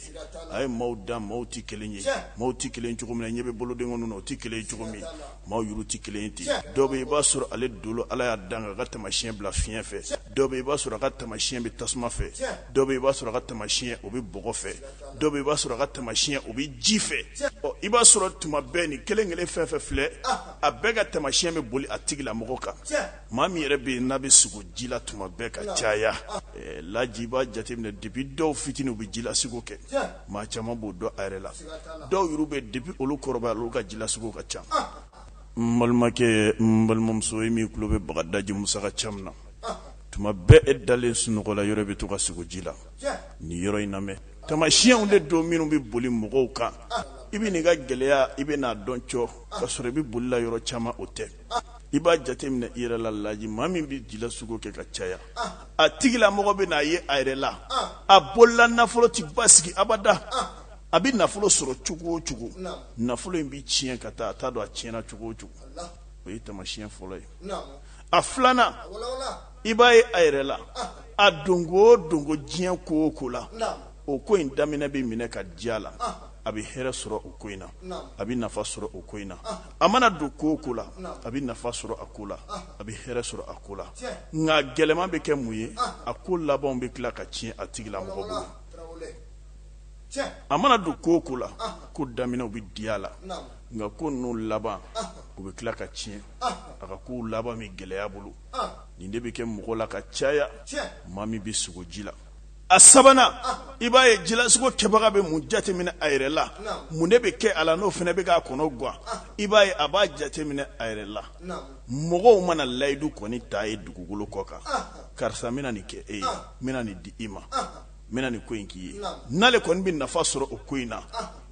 a ye maaw da maaw tɛ kelen ye maaw tɛ kelen cogo min na ɲɛ bɛ boloden kɔnɔ na o tɛ kelen cogo min maaw yuru tɛ kelen ten dɔ bɛ i b'a sɔrɔ ale dolo ala y'a dan k'a ka tamasiɲɛ bila fiɲɛ fɛ dɔ bɛ i b'a sɔrɔ a ka tamasiɲɛ bɛ tasuma fɛ dɔ bɛ i b'a sɔrɔ a ka tamasiɲɛ o bɛ bɔgɔ fɛ dɔ bɛ i b'a sɔrɔ a ka tamasiɲɛ o bɛ ji fɛ ɔ i b'a sɔrɔ tuma bɛɛ ni kelen kelen fɛn fɛn filɛ a bɛɛ ka tamasiɲɛ bɛ boli a tigila mɔgɔ kan Maa min yɛrɛ bɛ yen n'a bɛ sugo ji la tuma bɛɛ ka caya laji b'a jateminɛ depuis dɔw fitinin u bɛ jilasugo kɛ maa caman b'o dɔn a yɛrɛ la dɔw yɛrɛ bɛ depuis olu kɔrɔbaya olu ka jilasugo ka ca n balimakɛ n balimamuso ye min tulo bɛ bagadaji musa ka kan na tuma bɛɛ e dalen sunɔgɔla yɔrɔ bɛ to ka sugo ji la ni yɔrɔ in lamɛn tamasiɲɛw de don minnu bɛ boli mɔgɔw kan i bɛ nin ka gɛlɛyaya i bɛn'a dɔn c ka sɔrɔ i bɛ bolila yɔrɔ caman o tɛ i b'a jateminɛ i yɛrɛ la laji maa min bɛ jilasugo kɛ ka caya a tigila mɔgɔ bɛna a ye a yɛrɛ la a bolola nafolo tɛ basigi abada a bɛ nafolo sɔrɔ cogo o cogo nafolo in bɛ tiɲɛ ka taa a t'a dɔn a tiɲɛna cogo o cogo o ye tamasiyɛn fɔlɔ ye a filanan i b'a ye a yɛrɛ la a donko o donko diɲɛ ko o ko la o ko in daminɛ bɛ minɛ ka diya la a bɛ hɛrɛ sɔrɔ o ko in na a bɛ nafa sɔrɔ o ko in na a mana don ko o ko la a bɛ nafa sɔrɔ a ko la a bɛ hɛrɛ sɔrɔ a ko la nka gɛlɛman bɛ kɛ mun ye a ko labanw bɛ tila ka tiɲɛ a tigila mɔgɔ bolo a mana don ko o ko la ko daminɛw bɛ diya la nka ko ninnu laban u bɛ tila ka tiɲɛ a ka kow laban bɛ gɛlɛya bolo nin de bɛ kɛ mɔgɔ la ka caya maa min bɛ sugo ji la a sabanan i b'a ye jilasugo kɛbaga bɛ mun jateminɛ a yɛrɛ la mun de bɛ kɛ a la n'o fana bɛ k'a kɔnɔ gan i b'a ye a b'a jateminɛ a yɛrɛ la mɔgɔw mana layidu kɔni t'a ye dugukolo kɔ kan karisa bɛna nin kɛ e ye bɛna nin di i ma bɛna nin ko in k'i ye n'ale kɔni bɛ nafa sɔrɔ o ko in na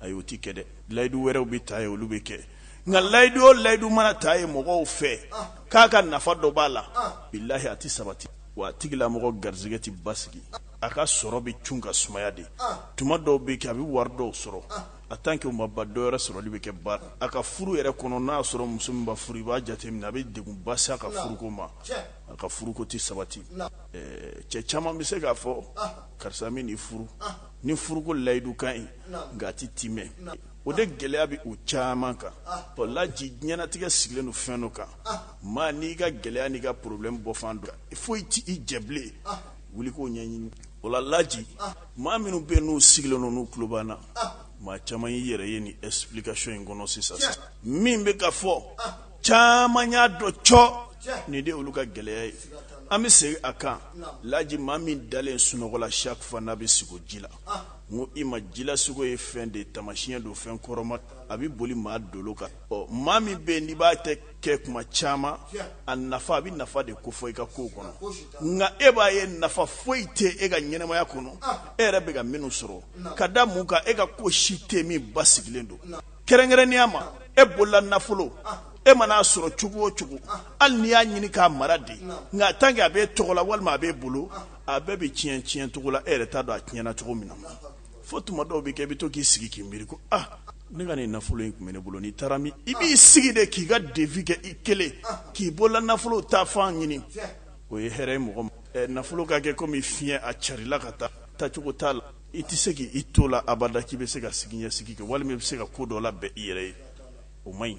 ayi o tɛ kɛ dɛ layidu wɛrɛw bɛ t'a ye olu bɛ kɛ nka layidu o layidu mana t'a ye mɔgɔw fɛ k'a ka nafa dɔ b'a la bilahi a tɛ sabati wa a tigilamɔgɔ garisɛgɛ tɛ basigi a ka sɔrɔ bɛ c ka sumaya de tuma dɔw bɛ kɛ a bɛ wari dɔw sɔrɔ a tant que u ma ba dɔw yɛrɛ sɔrɔli bɛ kɛ ba a ka furu yɛrɛ kɔnɔ n'a y'a sɔrɔ muso min furu i b'a jateminɛ a bɛ denw basi ka furuko ma a ka furuko tɛ sabati cɛ caman bɛ se k'a fɔ karisa min furu ni furuko layidu ka ɲi nka a tɛ ten o de gɛlɛya bɛ u caman kan laji ɲɛnatigɛ sigilen don fɛn dɔ kan maa n'i ka gɛlɛya n'i ka problème bɔfan dɔn foyi ci i jɛbilen wuli k'o ɲɛɲini o la laji maa minnu bɛ yen u sigilen n n'u tulo b'an na maa caman y'i yɛrɛ ye nin explication in kɔnɔ sisan min bɛ ka fɔ caman y'a dɔn c nin de olu ka gɛlɛya ye an bɛ segin a kan laji maa min dalen sunɔgɔ la su fɛ n'a bɛ sugo ji la n ko i ma jila sugo ye fɛn de ye tamasiɲɛ don fɛn kɔrɔma a bɛ boli maa dolo kan ɔ maa min bɛ yen n'i b'a tɛ kɛ kuma caman a nafa a bɛ nafa de kofɔ i ka kow kɔnɔ nka e b'a ye nafa foyi tɛ e ka ɲɛnamaya kɔnɔ ah. e yɛrɛ bɛ ka minnu sɔrɔ ka da mun kan e ka ko si tɛ min basigilen don kɛrɛnkɛrɛnnenya ma e bolola nafolo ah. e mana a sɔrɔ cogo o cogo ah. hali n'i y'a ɲini k'a mara de nka tant que a b'e tɔgɔ la walima a b'e bolo a bɛɛ bɛ tiɲɛ tiɲɛ cogo la e yɛrɛ t'a dɔn a tiɲɛna cogo min na fo tuma dɔw bɛ kɛ i bɛ to k'i sigi k'i miiri ko ah Ne ka nin nafolo in tun bɛ ne bolo nin taara min i b'i sigi de k'i ka devis kɛ i kelen k'i bolola nafolo taafan ɲini o ye hɛrɛ ye mɔgɔ nafolo ka kɛ komi fiɲɛ ye a carila ka taa tacogo t'a la i tɛ se k' i to la abada k'i bɛ se ka sigi sigi kɛ walima bɛ se ka ko dɔ labɛn i yɛrɛ ye o ma ɲi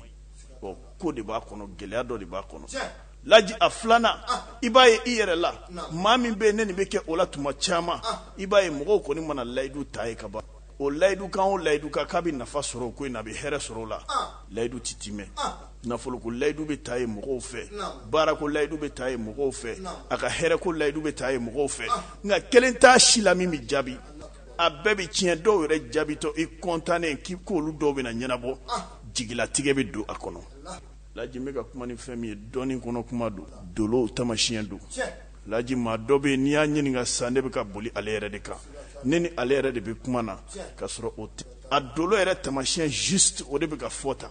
ko de b'a kɔnɔ gɛlɛya dɔ de b'a kɔnɔ laji a filanan i b'a ye i yɛrɛ la maa min bɛ yen nin bɛ kɛ o la tuma caman i b'a ye mɔgɔw kɔni mana layidu ta a ye ka ban o layidukan o layidukan k'a bɛ nafa sɔrɔ o ko in na a bɛ hɛrɛ sɔrɔ o la layidu tɛ tiimɛ nafolo ko layidu bɛ ta a ye mɔgɔw fɛ baara ko layidu bɛ ta a ye mɔgɔw fɛ a ka hɛrɛ ko layidu bɛ ta a ye mɔgɔw fɛ nka kelen t'a si la min bɛ jaabi a bɛɛ bɛ tiɲɛ dɔw yɛrɛ jaabitɔ i kɔntannen k'i ko olu dɔw bɛ na ɲɛnabɔ jigilatigɛ bɛ don a kɔnɔ Laji n bɛ ka kuma ni fɛn min ye dɔnni kɔnɔ kuma don dolo tamasiɲɛ don laji maa dɔ bɛ n'i y'a ɲininka sa ne bɛ ka boli ale yɛrɛ de kan ne ni ale yɛrɛ de bɛ kuma na ka sɔrɔ o a dolo yɛrɛ tamasiɲɛ juste o de bɛ ka fɔ tan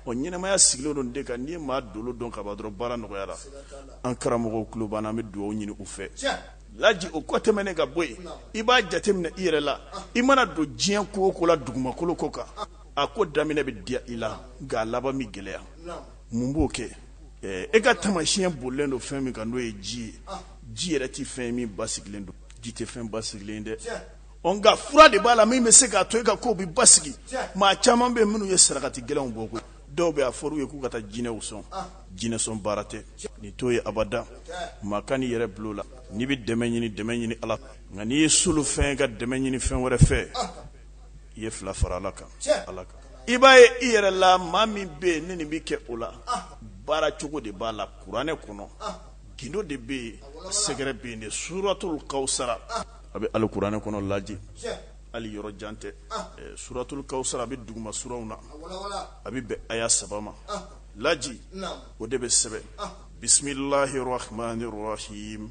o ɲɛnamaya sigilen don nin de kan n'i ye maa dolo dɔn ka ban dɔrɔn baara nɔgɔyara an karamɔgɔw tulo b'an na an bɛ dugawu ɲini u fɛ laji o kɔ tɛmɛnen ka bɔ yen i b'a jateminɛ i yɛrɛ la i mana don diɲɛ ko o ko la dugumakolo ko kan a ko daminɛ bɛ diya i la nka laban bɛ gɛlɛya mun b'o kɛ e ka tamasiɲɛ bolilen don fɛn min kan n'o ye ji ye ji yɛrɛ tɛ fɛn min basigilen don ji tɛ fɛn basigilen dɛ ɔ nka fura de b'a la min bɛ se k'a to e ka ko bɛ basigi maa caman bɛ minnu ye sarakati gɛlɛnw bɔ koyi dɔw bɛ a fɔ ye k'u ka taa jinɛw sɔn jinɛsɔn baara tɛ ni to ye abada maa kan'i yɛrɛ bil'o la n'i bɛ dɛmɛ ɲini dɛmɛ ɲini ala nka n'i ye solofɛn ka dɛmɛ ɲini fɛn wɛrɛ fɛ i ye fila fara ala kan ala kan i b'a ye i yɛrɛ la maa min bɛ yen ne nin bɛ kɛ o la baara cogo de b'a la kuranɛ kɔnɔ gundo de bɛ yen sɛgɛrɛ bɛ yen de suratul kawusara a bɛ alikuranɛ kɔnɔ laji ali yɔrɔ jan tɛ suratul kawusara a bɛ duguma suraw na a bɛ bɛn aya saba ma laji o de bɛ sɛbɛn bisimilahi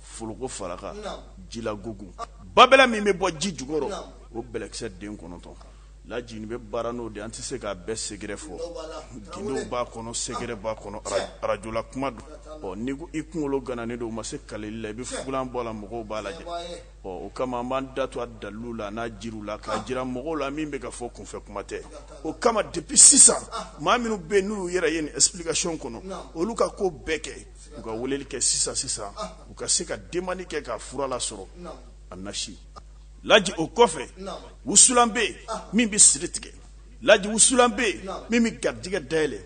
forokofaraka jilagogo babɛ min bɛ bɔ ji jukɔrɔ o bɛlɛkisɛ den kɔnɔntɔn laji bɛ baara n'o de an tɛ se k'a bɛɛ sɛgɛrɛ fɔ gundo b'a kɔnɔ sɛgɛrɛ b'a kɔnɔ arajo la kuma don ɔ ni i kunkolo gana ni don u ma se kalili la i bɛ fugula bɔ la mɔgɔw b'a lajɛ ɔ o kama an b'an da to a dalu la n'a jiri la k'a jira mɔgɔw la min bɛ ka fɔ kunfɛ kuma tɛ o kama de bi sisan maa minnu bɛ n'u yɛrɛ ye nin okasiyɔn kɔnɔ olu ka ko bɛɛ kɛ u ka weleli kɛ sisan sisan u ka se ka denmani kɛ ka fura lasɔrɔ an na laji o kɔfɛ wusulan bɛ yen min bɛ siri tigɛ laji wusulan bɛ yen min bɛ garijɛgɛ dayɛlɛ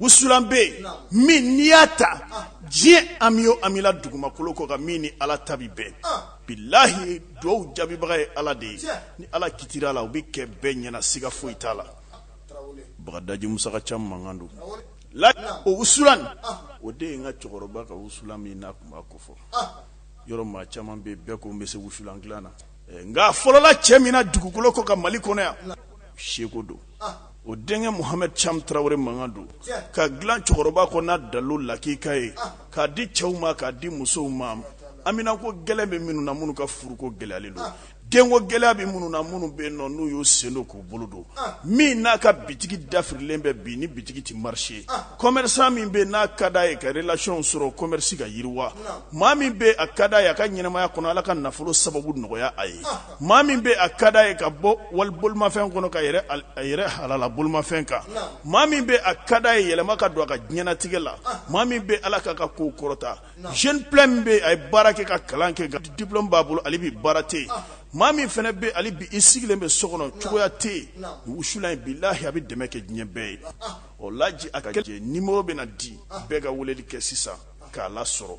wusulan bɛ yen min n'i y'a ta diɲɛ an bɛ an bɛ dugumakolo kɔ kan min ni ala ta bɛ bɛn bilahi dugawu jaabibaga ye ala de ye ni ala kitira la u bɛ kɛ bɛɛ ɲɛna siga foyi t'a la bagadaji musa ka camu mankan don la o wusulan o de ye n ka cɛkɔrɔba ka wusulan min n'a tun b'a kofɔ yɔrɔ maa caman bɛ bɛɛ ko n bɛ se wusulan dilan na nka fɔlɔla cɛ min dugukolo kɔ kan mali kɔnɔ yan seko don o denkɛ muhamɛdi camu tarawele mankan don ka dilan cɛkɔrɔba kɔ n'a dalo lakika ye k'a di cɛw ma k'a di musow ma haminako gɛlɛn bɛ minnu na minnu ka furuko gɛlɛyalen don denko gɛlɛya bɛ minnu na minnu bɛ yen nɔ n'u y'u sen don k'u bolo don min n'a ka bitigi dafirilen bɛ bi ni bitigi tɛ marise kɔmɛrisan min bɛ n'a ka da ye ka relasiyɔnw sɔrɔ kɔmɛrisi ka yiriwa maa min bɛ a ka da ye a ka ɲɛnamaya kɔnɔ ala ka nafolo sababu nɔgɔya a ye maa min bɛ a ka da ye ka bɔ wali bolomafɛn kɔnɔ ka yɛlɛ a yɛrɛ halala bolomafɛn kan maa min bɛ a ka da ye yɛlɛma ka don a ka diɲɛnatigɛ la maa min bɛ ala k'a ka ko kɔrɔta jeune plein min bɛ yen a ye baara kɛ ka kalan kɛ ka diplôme b'a bolo hali bi baara tɛ yen maa min fana bɛ yen hali bi i sigilen bɛ so kɔnɔ cogoya tɛ yen wusulan in bilahi a bɛ dɛmɛ kɛ diɲɛ bɛɛ ye ɔ laji a ka kɛ numéro bɛna di bɛɛ ka weleli kɛ sisan k'a lasɔrɔ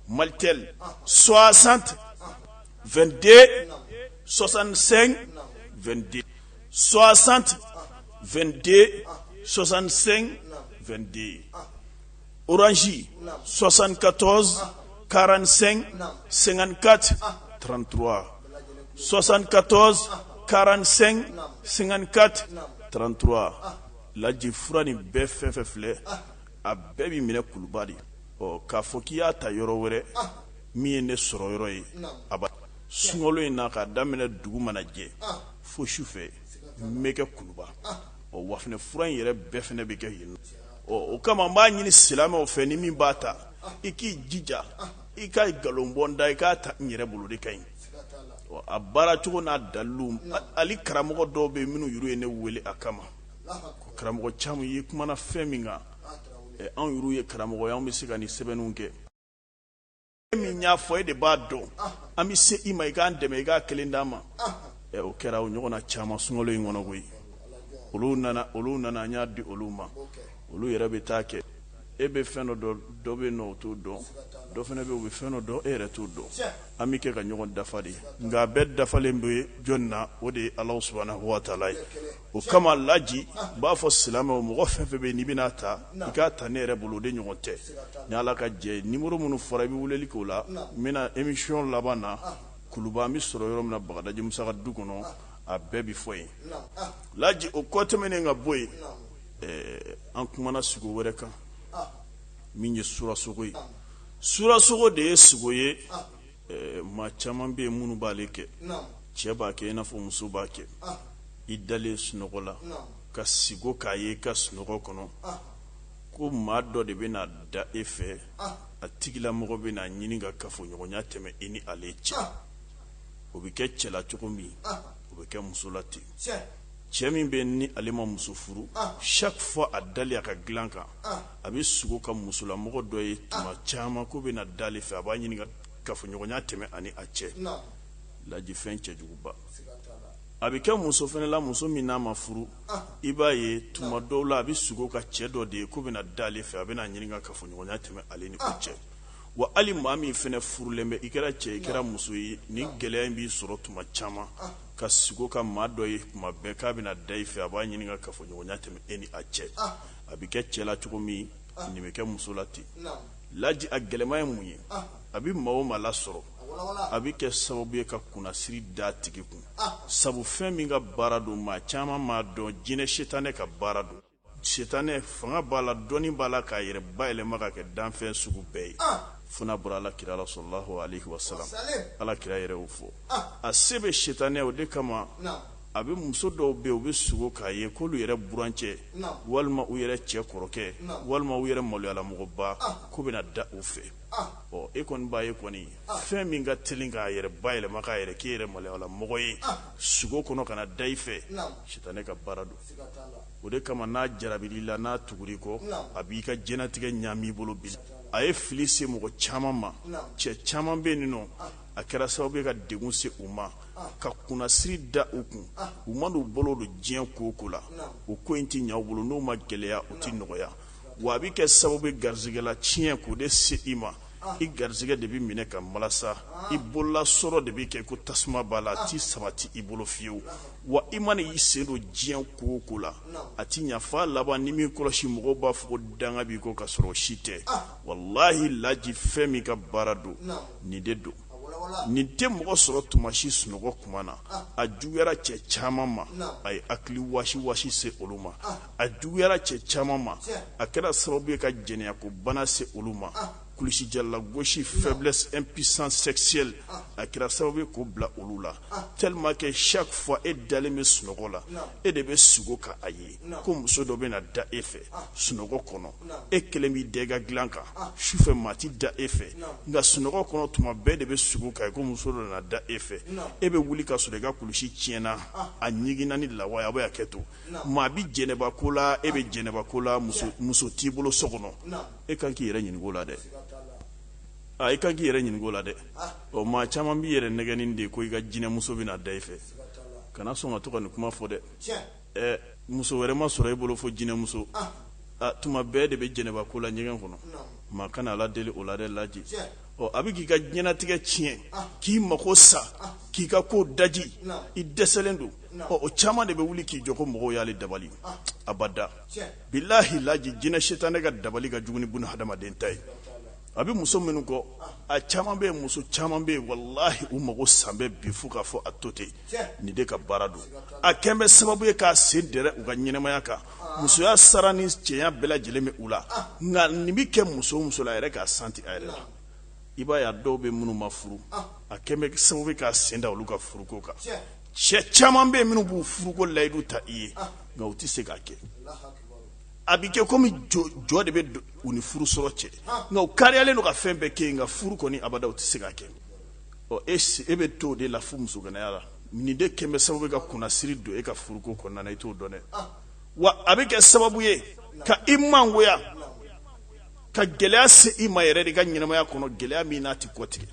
malitel 60 22 65 22 60 22 65 22 orange 74 45 54 33 74 45 54 33 laji fura nin bɛɛ fɛn fɛn filɛ a bɛɛ bɛ minɛ kuluba de ɔ k'a fɔ k'i y'a ta yɔrɔ wɛrɛ min ye ne sɔrɔ yɔrɔ ye a ba sunkalo in na k'a daminɛ dugu mana jɛ fo su fɛ n bɛ kɛ kuluba ɔ wa fana fura in yɛrɛ bɛɛ fana bɛ kɛ yen ɔ o kama n b'a ɲini silamɛw fɛ ni min b'a ta i k'i jija i ka nkalon bɔ n da i k'a ta n yɛrɛ bolo de ka ɲi ɔ a baara cogo n'a dalilu hali karamɔgɔ dɔw bɛ yen minnu yɛrɛ ye ne wele a kama karamɔgɔ caman i kumana fɛn min kan anw yɛrɛ ye karamɔgɔ ye anw bɛ se ka nin sɛbɛnniw kɛ min y'a fɔ e de b'a dɔn an bɛ se i ma i k'an dɛmɛ i k'a kelen d'an ma o kɛra o ɲɔgɔn na caman sunkalo in kɔnɔ koyi olu nana olu nana an y'a di olu ma olu yɛrɛ bɛ t'a kɛ e bɛ fɛn dɔ dɔn dɔ bɛ n'o t'o dɔn dɔ fana bɛ o bɛ fɛn dɔ dɔn e yɛrɛ t'o dɔn an bɛ kɛ ka ɲɔgɔn dafa de nka a bɛɛ dafalen bɛ jɔn na o de ye Alahu subahana watala ye o kama laji n b'a fɔ silamɛw mɔgɔ fɛn fɛn bɛ n'i bɛna'a ta i k'a ta ne yɛrɛ bolo o de ɲɔgɔn tɛ ni ala ka jɛ numéro minnu fɔra i bɛ wulili k'o la n bɛna émission laban na kuluba an bɛ sɔrɔ yɔrɔ min na bagadaji musa ka du kɔnɔ a bɛɛ bɛ fɔ yen laji o kɔ tɛmɛnen ka bɔ yen an kumana sogo wɛrɛ kan min ye suraso ye suraso de ye sogo ye maa caman bɛ yen minnu b'ale kɛ cɛ b'a kɛ i n'a fɔ muso b'a kɛ i dalen sunɔgɔ la ka siko k'a ye i ka sunɔgɔ kɔnɔ ko maa dɔ de bɛna da e fɛ a tigilamɔgɔ bɛ n'a ɲini ka kafoɲɔgɔnya tɛmɛ i ni ale cɛ o bɛ kɛ cɛ la cogo min o bɛ kɛ muso la ten cɛ min bɛ ni ale ma muso furu chaque fois a dalen a ka dilan kan a bɛ sogo ka musolamɔgɔ dɔ ye tuma caman k'o bɛ na da fɛ a b'a ɲini kafoɲɔgɔnya tɛmɛ a ni a cɛ laji fɛn cɛjuguba a bɛ kɛ muso fana la muso min n'a ma furu i b'a ye tuma dɔw la a bɛ sogo ka cɛ dɔ de ye k'o bɛna da fɛ a bɛna ɲini kafoɲɔgɔnya tɛmɛ ale ni cɛ wa hali maa min fana furulen bɛ i kɛra cɛ i kɛra muso ye ni gɛlɛya in b'i sɔrɔ tuma caman ka sogo ka maa dɔ ye tuma bɛɛ k'a bɛna da fɛ a b'a ɲini kafoɲɔgɔnya tɛmɛ e ni a cɛ a bɛ kɛ cɛ la cogo min nin bɛ kɛ muso la ten laji a gɛlɛman ye mun ye a bɛ maa o maa lasɔrɔ a bɛ kɛ sababu ye ka kunnasiri da a tigi kun sabu fɛn min ka baara don maa caman m'a dɔn jinɛ sitanɛ ka baara don sitanɛ fanga b'a la dɔnni b'a la k'a yɛrɛ bayɛlɛma ka kɛ danfɛn sugu bɛɛ ye fo n'a bɔra ala kira la salalahu wa salam ala kira yɛrɛ y'o fɔ a se bɛ sitanɛ o de kama A bɛ muso dɔw bɛ u bɛ sugo k'a ye k'olu yɛrɛ burancɛ walima u yɛrɛ cɛ kɔrɔkɛ walima u yɛrɛ maloyalamɔgɔba k'o bɛ na da u fɛ ɔ e kɔni b'a ye kɔni fɛn min ka telin k'a yɛrɛ bayɛlɛma k'a yɛrɛ k'i yɛrɛ maloyalamɔgɔ ye sugo kɔnɔ ka na da i fɛ sitanɛ ka baara don o de kama n'a jarabira i la n'a tugura i kɔ a b'i ka diɲɛnatigɛ ɲaami i bolo bi a ye fili se mɔgɔ caman ma cɛ caman bɛ nin nɔ a kɛra sababu ye ka degun se u ma ka kunnasiri da u kun u mana u bolo don diɲɛ ko o ko la o ko in tɛ ɲɛ u bolo n'u ma gɛlɛya u tɛ nɔgɔya wa a bɛ kɛ sababu ye garisɛgɛlatiɲɛ k'o de se i ma i garisɛgɛ de bɛ minɛ k'a malasa i bolola sɔrɔ de bɛ kɛ ko tasuma b'a la a tɛ sabati i bolo fiyewu wa i mana i sen don diɲɛ ko o ko la a tɛ ɲa f'a laban n'i m'i kɔlɔsi mɔgɔw b'a fɔ danga b'i kɔ ka sɔrɔ si tɛ walahi laji fɛn min ka baara don nin de don nin tɛ mɔgɔ sɔrɔ tuma si sunɔgɔ kuma na ah. a juguyara cɛ caman ma a ye hakili wasi wasi se olu ma ah. a juguyara cɛ caman ma a kɛra sababu ye ka jɛnɛyako bana se olu ma ah. kulusijala gosi faiblesse impuissance sexuelle a kɛra sababu ye k'o bila olu la tellement que chaque fois e dalen bɛ sunɔgɔ la e de bɛ sugo k'a ye ko muso dɔ bɛ na da e fɛ sunɔgɔ kɔnɔ e kelen b'i da i ka dilan kan su fɛ maa tɛ da e fɛ nka sunɔgɔ kɔnɔ tuma bɛɛ de bɛ sugo k'a ko muso dɔ nana da e fɛ e bɛ wuli ka sɔrɔ i ka kulusi tiɲɛna a ɲiginna ni lawa a bɛ kɛ tuma bɛɛ jɛnɛba ko la e bɛ jɛnɛba ko la muso t'i bolo so kɔnɔ e kan k'i yɛrɛ ɲininka o la dɛ aa i kan k'i yɛrɛ ɲininka o la dɛ ɔ maa caman b'i yɛrɛ nɛgɛn nin de ko i ka jinɛmuso bɛ na da e fɛ kana sɔn ka to ka nin kuma fɔ dɛ ɛ muso wɛrɛ ma sɔrɔ e bolo fo jinɛmuso ah. ah, tuma bɛɛ de bɛ jɛnɛba ko la ɲɛgɛn kɔnɔ maa kana ala deli o la dɛ laji ɔ a bɛ k'i ka diɲɛnatigɛ tiɲɛ ah. k'i mako sa ah. k'i ka ko daji i dɛsɛlen don ɔ o caman de bɛ wuli k'i jɔ ko mɔgɔw y'ale dabali abada bilahi laji jinɛ sitanɛ ka dabali ka jugu ni buna hadamaden ta ye a bɛ muso minnu kɔ a caman bɛ muso caman bɛ yen walahi u mago salen bɛ bi fo k'a fɔ a to ten nin de ka baara don a kɛlen bɛ sababu ye k'a sen dɛrɛ u ka ɲɛnamaya kan musoya sara ni cɛɲa bɛɛ lajɛlen bɛ u la nka nin bɛ kɛ muso o muso la a yɛrɛ k'a santi a yɛrɛ la i b'a y'a dɔw bɛ minnu ma furu a kɛlen bɛ sababu ye k'a sen da olu ka furuko kan cɛ caman bɛ yen minnu b'u furuko layidu ta i ye nka u tɛ se k'a kɛ a bɛ kɛ komi jɔ de bɛ u ni furu sɔrɔ cɛ nka u kariyalen don ka fɛn bɛɛ kɛ nka furu kɔni abada tɛ se ka kɛ e e bɛ to o de la fo musoganaya la nin de kɛlen bɛ sababu ye ka kunnasiri don e ka furuko kɔnɔna i t'o dɔn dɛ wa a bɛ kɛ sababu ye ka i mangoya ka gɛlɛya se i ma yɛrɛ de i ka ɲɛnamaya kɔnɔ gɛlɛya min n'a tɛ kɔtigɛ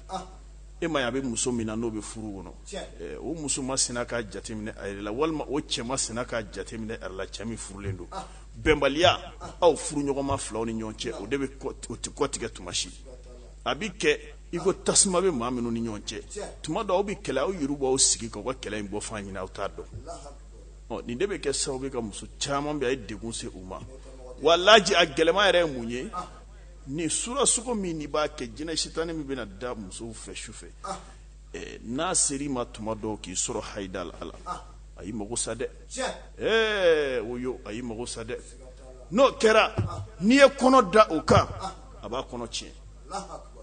e ma a bɛ muso min na n'o bɛ furu kɔnɔ o muso ma sina ka jateminɛ a la walima o cɛ ma sina ka jateminɛ a la cɛ min furulen don bɛnbaliya aw furu ɲɔgɔnma filaw ni ɲɔgɔn cɛ o de bɛ o tɛ kɔtigɛ tuma si a bɛ kɛ i ko tasuma bɛ maa minnu ni ɲɔgɔn cɛ tuma dɔw aw bɛ kɛlɛ aw yɛrɛ b'aw sigi ka kɛlɛ in bɔyɔrɔ ɲini aw t'a dɔn nin de bɛ kɛ sababu ye ka muso caman bɛ a ye de se u ma wa laji a gɛlɛya yɛrɛ ye mun ye nin sura sugo min n'i b'a kɛ jinɛ sitani min bɛna da musow fɛ su fɛ ah. eh, n'a sera i ma tuma dɔw k'i sɔrɔ hayida la ala ah. a y'i mago sa dɛ eh, o yo a y'i mago sa dɛ n'o kɛra ah. n'i ye kɔnɔ ta o kan a b'a kɔnɔ tiɲɛ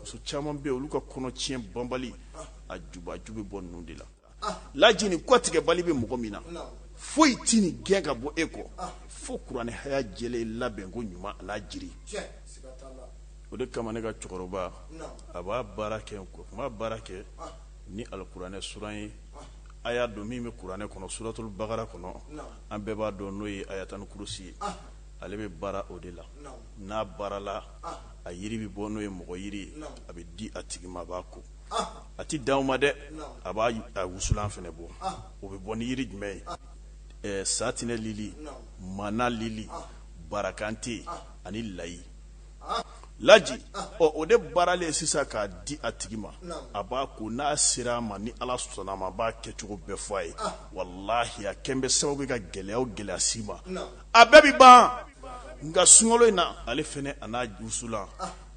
muso caman bɛ yen olu ka kɔnɔ tiɲɛ banbali a juba a ju bɛ bɔ ninnu de la laji nin kɔtigɛbali bɛ mɔgɔ min na foyi tɛ nin gɛn ka bɔ e kɔ fo kuranɛ haya jɛlen ye labɛnko ɲuman ani jiri o de kama ne ka cɛkɔrɔba a b'a baara kɛ b'a baara kɛ ni alikuranɛ suran ye aya don min bɛ kuranɛ kɔnɔ suratuli bagara kɔnɔ an bɛɛ b'a dɔn n'o ye ayatali kurusi ye ale bɛ baara o de la n'a baarala a yiri bɛ bɔ n'o ye mɔgɔjiri a bɛ di a tigi ma a b'a ko a tɛ dan o ma dɛ a b'a a wusulan fana bɔ o bɛ bɔ ni yiri jumɛn ye satinɛ lili mana lili barakante ani layi laji ɔ o de baaralen sisan k'a di a tigi ma a b'a ko n'a sera a ma ni ala sɔnna a ma b'a kɛcogo bɛɛ fɔ a ye walahi a kɛlen bɛ sababu ye ka gɛlɛya o gɛlɛya se i ma a bɛɛ bɛ ban nka sunkalo in na ale fana a n'a wusulan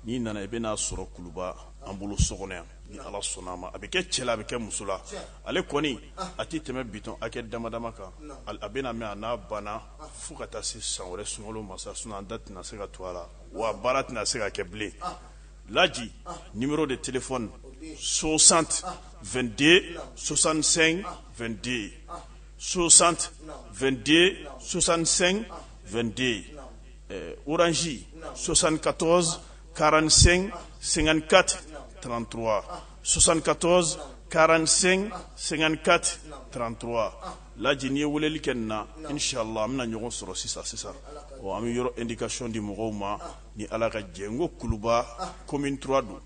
n'i nana i bɛna a sɔrɔ kuluba an bolo so kɔnɔ yan ni ala sɔnna a ma a bɛ kɛ cɛ la a bɛ kɛ muso la ale kɔni a tɛ tɛmɛ bidɔn hakɛ damadama kan a bɛna mɛn a n'a banna fo ka taa se san wɛrɛ sunkalo masa sun an da tɛna se ka to a la wa baara tɛna se ka kɛ bilen laji numéro de téléphone 60 22 65 22 60 22 65 22 orange 74 45 54 33 74 45 54 33 laji n'i ye weleli kɛ nin na inshallah an bɛna ɲɔgɔn sɔrɔ sisan sisan ɔ an bɛ yɔrɔ indication di mɔgɔw ma ni ala ka jɛ n ko kuluba commune 3 don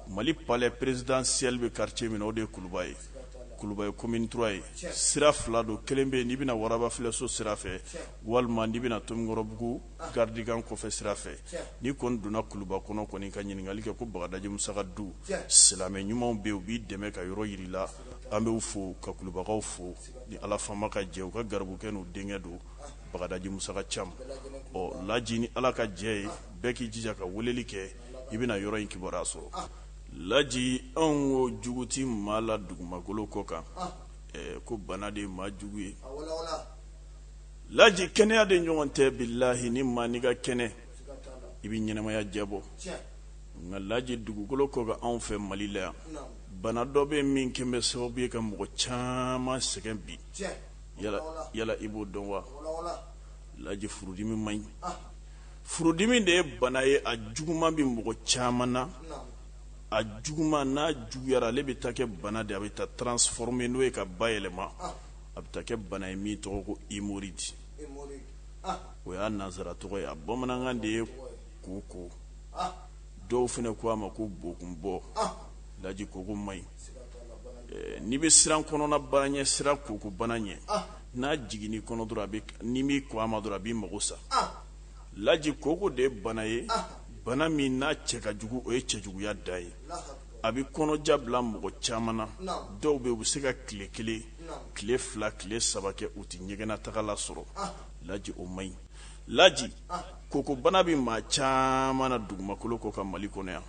mali palais présidentiel bɛ quartier min na o de ye kuluba ye kuluba ye commune 3 ye sira fila don kelen bɛ yen n'i bɛ na warabafilɛso sira fɛ walima n'i bɛna tomikɔrɔbugu garidikan kɔfɛ sira fɛ n'i kɔni donna kuluba kɔnɔ kɔni ka ɲininkali kɛ ko bagadaji musa ka du silamɛ ɲumanw bɛ u b'i dɛmɛ ka yɔrɔ yira i la an bɛ u fo ka kulubakaw fo ni ala faama ka jɛ u ka garibukɛ n'u denkɛ don bagadaji musaka cam ɔ laji ni ala ka jɛ ye bɛɛ k'i jija ka weleli kɛ i bɛna yɔrɔ in kibaruya sɔrɔ laji anw ko jugu tɛ maa la dugumakolo kɔ kan ko bana de ye maa jugu ye laji kɛnɛya de ɲɔgɔn tɛ bilahi ni maa ni ka kɛnɛ i bɛ ɲɛnamaya diyabɔ nka laji dugukolo kɔ bɛ anw fɛ mali la yan bana dɔ bɛ min kɛlen bɛ sababu ye ka mɔgɔ caman sɛgɛn bi yala i b'o dɔn wa laji furudimi man ɲi furudimi de ye bana ye a juguman bɛ mɔgɔ caman na a juguman n'a juguyayara ale bɛ taa kɛ bana de a bɛ taa transforme n'o ye k'a bayɛlɛma a bɛ taa kɛ bana ye min tɔgɔ ko emoroyidi o y'a nansara tɔgɔ ye bamanankan de ye koko dɔw fana ko a ma ko bokun bɔ laji koko man ɲi n'i bɛ siran kɔnɔna baara ɲɛ siran koko bana ɲɛ n'a jiginn'i kɔnɔ dɔrɔn ni bɛ ko a ma dɔrɔn a bɛ mako sa laji koko de ye bana ye bana min n'a cɛ ka jugu o ye cɛ juguyaya dan ye a bɛ kɔnɔja bila mɔgɔ caman na dɔw bɛ u bɛ se ka tile kelen tile fila tile saba kɛ u tɛ ɲɛgɛnna taga lasɔrɔ laji o man ɲi laji kokobana bɛ maa caman na dugumakolo kɔ kan mali kɔnɔ yan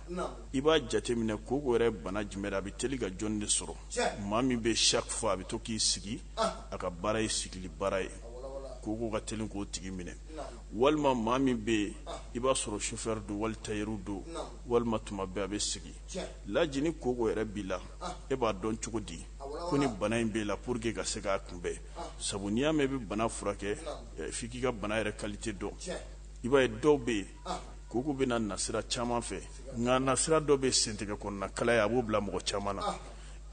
i b'a jateminɛ koko yɛrɛ bana jumɛn a bɛ teli ka jɔn de sɔrɔ maa min bɛ s'a fɔ a bɛ to k'i sigi a ka baara ye sigili baara ye koko ka teli k'o tigi minɛ walima maa min bɛ yen i b'a sɔrɔ sofɛri don wali tayɛri don walima tuma bɛɛ a bɛ sigi laji ni koko yɛrɛ b'i la e b'a dɔn cogo di ko ni bana in b'i la pour que ka se k'a kunbɛn sabu n'i y'a mɛn i bɛ bana furakɛ f'i k'i ka bana yɛrɛ kalite dɔn i b'a ye dɔw bɛ yen koko bɛ na nasira caman fɛ nka nasira dɔ bɛ sentigɛ kɔnɔna kalaya a b'o bila mɔgɔ caman na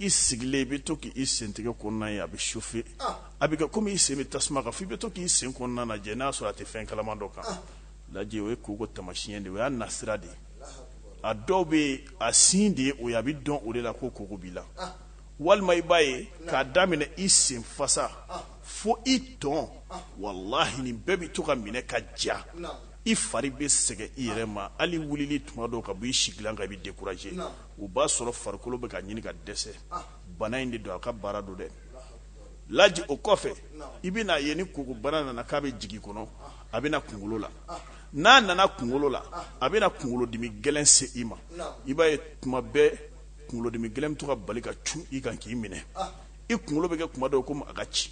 i sigilen i bɛ to k'i sentigɛ kɔnɔna ye a bɛ sofe a bɛ kɛ komi i sen bɛ tasuma kan f'i bɛ to k'i sen kɔnɔna lajɛ n'a sɔrɔ a tɛ fɛn kalaman dɔ kan laji o ye koko tamasiɲɛ de o y'a nasira de ye a dɔw bɛ yen a signe de ye o ye a bɛ dɔn o de la ko koko b'i la walima i b'a ye k'a daminɛ i sen fasa fo i tɔn walahi nin bɛɛ bɛ to ka minɛ ka ja i fari bɛ sɛgɛn i yɛrɛ ma hali wulili tuma dɔw ka bɔ i sigilan kan i bɛ dekuraje o b'a sɔrɔ farikolo bɛ ka ɲini ka dɛsɛ bana in de don a ka baara don dɛ laji o kɔfɛ i bɛna a ye ni koko bana nana k'a bɛ jigin kɔnɔ a bɛ na kunkolo la n'a nana kunkolo la a bɛna kunkolodimi gɛlɛn se i ma i b'a ye tuma bɛɛ kunkolodimi gɛlɛn bɛ to ka bali ka cun i kan k'i minɛ i kunkolo bɛ kɛ kuma dɔw komi a ka ci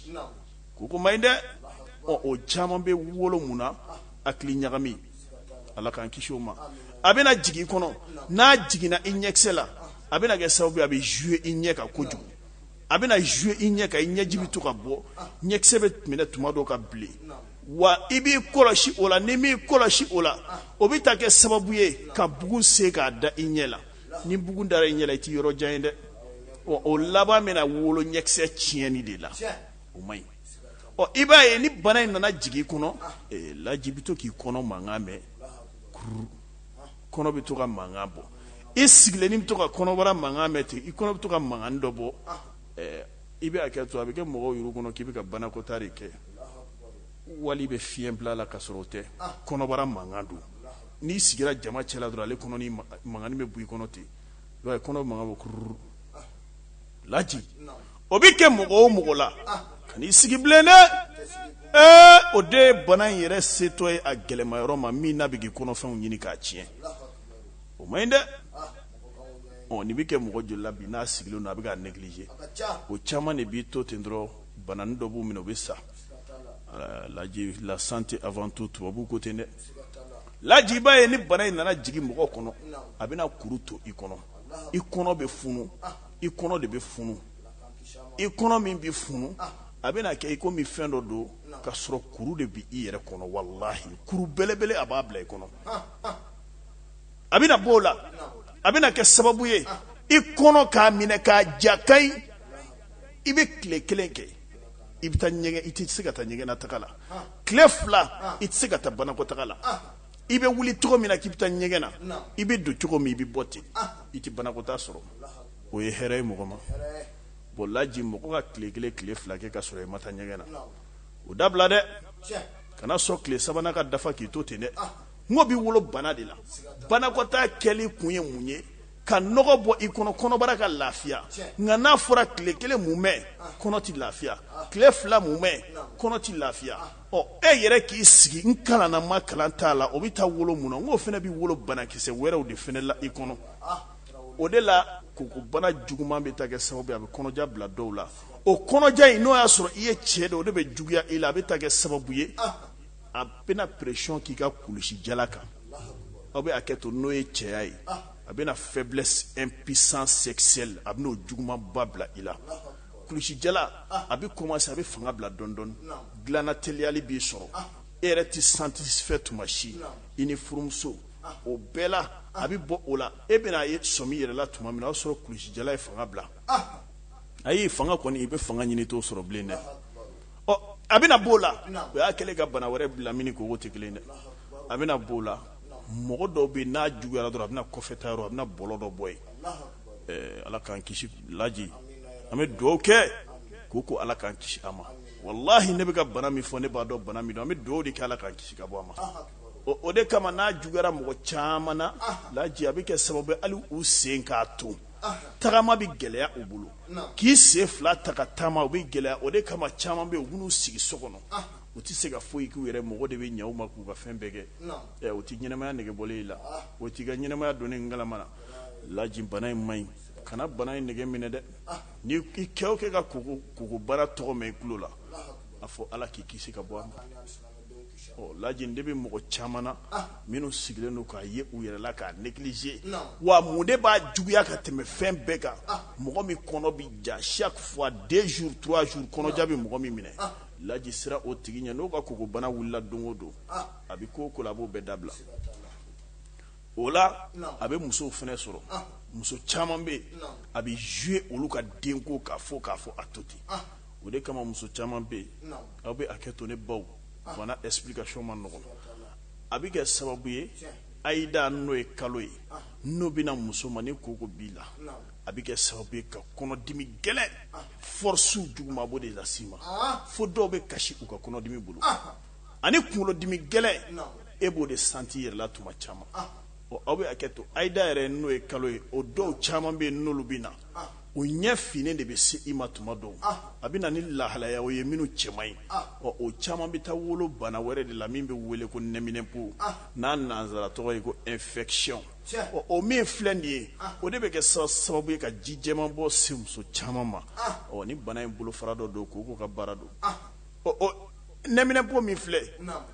koko man ɲi dɛ ɔ o caman bɛ wolo mun na hakiliɲagami ala k'an kisi o ma a bɛna jigin i kɔnɔ n'a jiginna i ɲɛkisɛ la a bɛna kɛ sababu a bɛ jouer i ɲɛ kan kojugu a bɛna jouer i ɲɛ kan i ɲɛji bɛ to ka bɔ ɲɛkisɛ bɛ minɛ tuma dɔw ka bilen wa i b'i kɔlɔsi o la n'i m'i kɔlɔsi o la o bɛ taa kɛ sababu ye ka bugun se ka da i ɲɛ la ni bugun dara i ɲɛ la i tɛ yɔrɔ jan ye dɛ ɔ o laban bɛna wolo ɲɛkisɛ tiɲɛni de la o man ɲi ɔ i b'a ye ni bana in nana jigin i kɔnɔ laji i bɛ to k'i kɔnɔ mankan mɛn kururu kɔnɔ bɛ to ka mankan bɔ i sigilen i bɛ to ka kɔnɔbara mankan mɛn ten i kɔnɔ bɛ to ka mankan dɔ bɔ i bɛ hakɛto a bɛ kɛ mɔgɔw yɛrɛ kɔnɔ k'i bɛ ka banakɔtaa de kɛ wala i bɛ fiɲɛ bila la ka sɔrɔ o tɛ kɔnɔbara mankan don n'i sigira jama cɛla dɔrɔn ale kɔnɔ mankan bɛ bɔ i kɔnɔ ten kɔnɔ bɛ mankan bɔ kuru laji o bɛ kɛ mɔgɔ o mɔgɔ la kan'i sigi bilen dɛ ee o de ye bana in yɛrɛ setɔ ye a gɛlɛyama yɔrɔ ma min na bɛ kɛ kɔnɔfɛnw ɲimi k'a tiɲɛ o man ɲi dɛ nin bɛ kɛ mɔgɔ joli bi n'a sigilen don a bɛ k'a négliger o caman de b'i to ten dɔrɔn bana dɔ b'u minɛ u bɛ sa laji late afantu tubabubu ko ten dɛ laji i b'a ye ni bana in nana jigin mɔgɔ kɔnɔ a bɛna kuru to i kɔnɔ i kɔnɔ bɛ funu i kɔnɔ de bɛ funu i kɔnɔ min bɛ funu a bɛna kɛ i komi fɛn dɔ don ka sɔrɔ kuru de bɛ i yɛrɛ kɔnɔ walahi kuru belebele a b'a bila i kɔnɔ a bɛna bɔ o la a bɛna kɛ sababu ye i kɔnɔ k'a minɛ k'a ja ka ɲi i bɛ tile kelen kɛ i bɛ taa ɲɛgɛn i tɛ se ka taa ɲɛgɛnnataga la tile fila i tɛ se ka taa banakɔtaga la i bɛ wuli cogo min na k'i bɛ taa ɲɛgɛn na i bɛ don cogo min i bɛ bɔ ten i tɛ banakɔtaa sɔrɔ o ye hɛrɛ ye mɔgɔ ma bon laji mɔgɔ ka tile kelen tile fila kɛ ka sɔrɔ i ma taa ɲɛgɛn na o dabila dɛ kana sɔn tile sabanan ka dafa k'i to ten dɛ n k'o bɛ wolo bana de la banakɔtaa kɛli kun ye mun ye ka nɔgɔ bɔ i kɔnɔ kɔnɔbara ka lafiya nka n'a fɔra tile kelen mumɛ kɔnɔ tɛ lafiya tile fila mumɛ kɔnɔ tɛ lafiya ɔ e yɛrɛ k'i sigi n kalanna n ma kalan t'a la o bɛ taa wolo mun na n k'o fana bɛ wolo banakisɛ wɛrɛw de fana la i kɔnɔ o de la kokobana juguman bɛ taa kɛ sababu ye a bɛ kɔnɔja bila dɔw la o kɔnɔja in n'o y'a sɔrɔ i ye cɛ de o de bɛ juguya i la a bɛ taa kɛ sababu ye a bɛna pression k'i ka kulusijala kan aw bɛ hakɛto n'o ye cɛya ye a bɛna faiblesse impuissance sexuelle a bɛna o jugumanba bila i la kulusijala a bɛ kɔmanse a bɛ fanga bila dɔɔni dɔɔni dilan na teliyali b'i sɔrɔ e yɛrɛ tɛ satisfait tuma si i ni furumuso o bɛɛ la a bɛ bɔ o la e bɛna a ye sɔmi yɛrɛ la tuma min o y'a sɔrɔ kulusijala ye fanga bila a y'i fanga kɔni i bɛ fanga ɲini i t'o sɔrɔ bilen dɛ ɔ a bɛna b'o la o y'a kɛlen ka bana wɛrɛ bila min ko tɛ kelen dɛ a bɛna b'o la mɔgɔ dɔw bɛ n'a juguyayara dɔrɔn a bɛna kɔfɛtayɔrɔ a bɛna bɔlɔ dɔ bɔ yen ala k'an kisi laji an bɛ dugawu kɛ ko ko ala k'an kisi a ma walahi ne bɛ ka bana min fɔ ne b'a dɔn bana min don an bɛ dugawu de kɛ ala k'an kisi ka bɔ a ma o de kama n'a juguyayara mɔgɔ caman na laji a bɛ kɛ sababu hali u sen k'a to tagama bɛ gɛlɛya u bolo k'i sen fila ta ka taama o bɛ gɛlɛya o de kama caman bɛ u b'u sigi so kɔnɔ u tɛ se ka foyi k'u yɛrɛ mɔgɔ de bɛ ɲɛw ma k'u ka fɛn bɛɛ kɛ o tɛ ɲɛnamaya nege bɔ i la o t'i ka ɲɛnamaya don ni kala na laji bana in ma ɲi kana bana in nege minɛ dɛ ni i kɛ o kɛ ka koko koko bana tɔgɔ mɛn i tulo la a fɔ ala k'i kisi ka bɔ a ma ɔ laji de bɛ mɔgɔ caman na minnu sigilen don k'a ye u yɛrɛ la k'a neglige wa mun de b'a juguya ka tɛmɛ fɛn bɛɛ kan mɔgɔ min kɔnɔ bɛ ja chaque fois deux jours trois jours kɔnɔja bɛ mɔgɔ min minɛ laji siran o tigi ɲɛ n'o ka koko bana wulila don o don a bɛ ko o ko la a b'o bɛɛ dabila o la a bɛ musow fana sɔrɔ muso caman bɛ a bɛ zuye olu ka denko kan fo k'a fɔ a to ten o de kama muso caman bɛ yen aw bɛ hakɛ to ne baw fana explication man nɔgɔ a bɛ kɛ sababu ye hayida n'o ye kalo ye n'o bɛna muso ma ni koko b'i la a bɛ kɛ sababu ye ka kɔnɔdimi gɛlɛn fɔrɔse jugumanba de lase i ma fo dɔw bɛ kasi u ka kɔnɔdimi bolo ani kunkolodimi gɛlɛn e b'o de santi yɛrɛ la tuma caman aw bɛ hakɛ to hayida yɛrɛ n'o ye kalo ye o dɔw caman bɛ yen n'olu bɛ na o ɲɛ fin de bɛ se i ma tuma dɔw a bɛ na ni lahalayaw ye minnu cɛ man ɲi ɔ o caman bɛ taa wolo bana wɛrɛ de la min bɛ wele ko nɛminɛpo n'a nansara tɔgɔ ye ko infection ɔ o min filɛ nin ye o de bɛ kɛ sababu ye ka ji jɛman bɔ se muso caman ma ɔ nin bana in bolofara dɔ don koko ka baara don nɛminɛpo min filɛ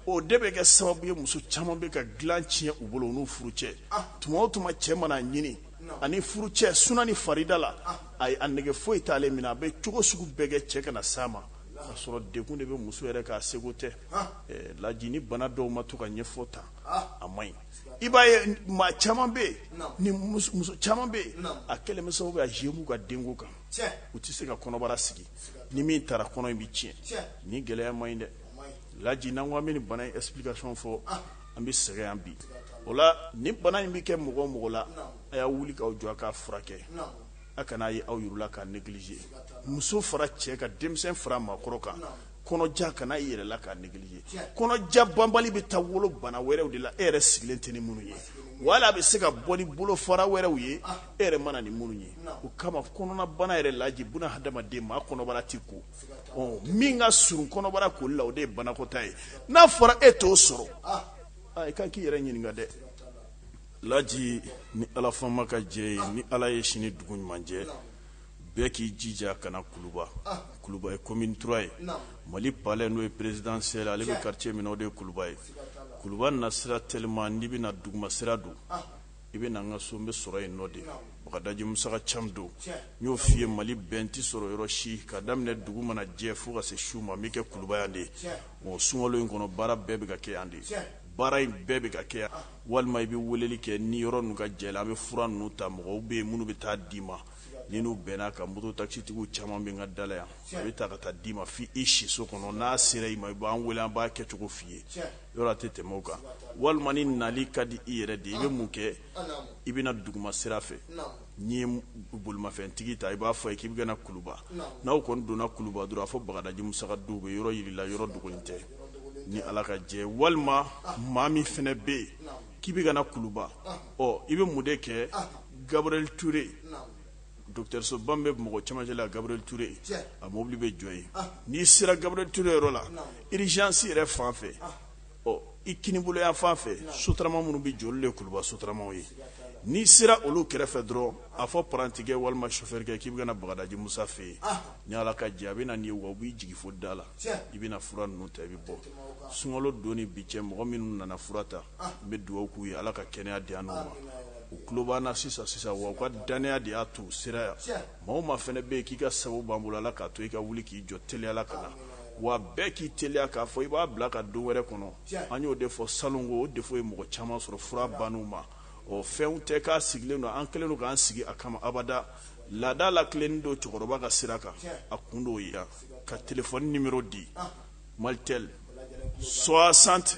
o de bɛ kɛ sababu ye muso caman bɛ ka dilan tiɲɛ u bolo n'u furucɛ tuma o tuma cɛ mana a ɲini ani furucɛ suna ni farida la a ye a nege foyi t'ale minɛ a bɛ cogo sugu bɛɛ kɛ cɛ kana s'a ma k'a sɔrɔ degun de bɛ muso yɛrɛ kan a sago tɛ laji nin bana dɔw ma to ka ɲɛfɔ ta a man ɲi i b'a ye maa caman bɛ yen ni muso caman bɛ yen a kɛlen bɛ sababu ye a zuye u ka denko kan u tɛ se ka kɔnɔbara sigi ni min taara kɔnɔ in bɛ tiɲɛ ni gɛlɛya ma ɲi dɛ laji n'an ko an bɛ ni bana in explication fɔ an bɛ sɛgɛn yan bi o la ni bana in bɛ kɛ mɔgɔ o mɔgɔ la a ye wuli k'aw jɔ a k'a furakɛ a kana a ye aw yɛrɛ la k'a négliger muso fara cɛ kan denmisɛn fara maakɔrɔ kan kɔnɔja kana i yɛrɛ la k'a négliger kɔnɔja banbali bɛ taa wolo bana wɛrɛw de la e yɛrɛ sigilen tɛ ni minnu ye wala a bɛ se ka bɔ ni bolofara wɛrɛw ye e yɛrɛ mana ni minnu ye o kama kɔnɔnabana yɛrɛ laji bɛ na hadamaden ma kɔnɔbara tɛ ko min ka surun kɔnɔbara ko la o de ye banakɔtaa ye n'a fɔra e t'o sɔrɔ i ka kan k'i yɛrɛ ɲininka dɛ laji ni ala faama ka jɛ ye ni ala ye sini dugu ɲuman jɛ bɛɛ k'i jija ka na kuluba kuluba ye commune trois ye mali palais n'o ye présidentiel palais bɛ quartier min o de ye kuluba ye kuluba nasira teliman n'i bɛ na duguma sira don i bɛ na an ka so n bɛ sɔrɔ yen nɔ de bagadaji musa ca don n y'o f'i ye mali bɛɛ n tɛ sɔrɔ yɔrɔ si ka daminɛ dugu mana jɛ fo ka se su ma n bɛ kɛ kuluba yan de ye mɔgɔ sunkalo in kɔnɔ baara bɛɛ bɛ ka kɛ yan de ye baara in bɛɛ bɛ ka kɛ walima i bɛ weleli kɛ ni yɔrɔ ninnu ka jan an bɛ fura ninnu ta mɔgɔw bɛ yen minnu bɛ taa d'i ma ni n'u bɛnna ka muruuru tasitigiw caman b'an ka da la yan a bɛ taa ka taa d'i ma fo i siso kɔnɔ n'a sera i ma i b'an wele an b'a kɛcogo f'i ye yɔrɔ a tɛ tɛmɛ o kan walima ni nali ka di i yɛrɛ de i bɛ mun kɛ i bɛ na duguma sira fɛ n'i ye bolomafɛntigi ta i b'a fɔ a ye k'i bɛ ka na kuluba n'aw kɔni donna kuluba dɔrɔn a fɔ bagadaji musa ka du u bɛ yɔrɔ jira i la yɔrɔ dogolen tɛ ni ala ka jɛ walima maa min fana bɛ yen k'i bɛ ka na kuluba ɔ i bɛ mun de kɛ gabrili ture Dɔgɔtɔrɔsoba bɛ mɔgɔ caman ɲɛ la gabrili ture a mobili bɛ jɔ yen n'i sera gabrili ture yɔrɔ la urgence yɛrɛ fan fɛ ɔ i kinibolo yanfan fɛ sotarama minnu bɛ jɔ olu de kuluba sotaramaw ye n'i sera olu kɛrɛfɛ dɔrɔn a fɔ parantikɛ walima sofɛrikɛ k'i bɛ ka na bagadaji musa fɛ yen ni ala ka jɛ a bɛ na nin wa b'i jigin fo da la i bɛ na fura ninnu ta i bɛ bɔ sunkalo don ni bi cɛ mɔgɔ minnu nana fura ta n bɛ dugawu k'u ye ala ka kɛnɛya d'u ma u tulo b'an na sisan sisan wa u ka dannaya de y'a to u sera yan maa min fana bɛ yen k'i ka sababu b'an bolo ala k'a to i ka wuli k'i jɔ teliya la ka na wa bɛɛ k'i teliya k'a fɔ i b'a bila ka don wɛrɛ kɔnɔ an y'o de fɔ sanuko o de ye mɔgɔ caman sɔrɔ fura ban ma ɔ fɛnw tɛ k'a sigilen don an kɛlen don k'an sigi a kama abada laadada la kelen don cɛkɔrɔba ka sira kan a kun dɔw yan ka tf ni di mali tɛ sɔ san tɛ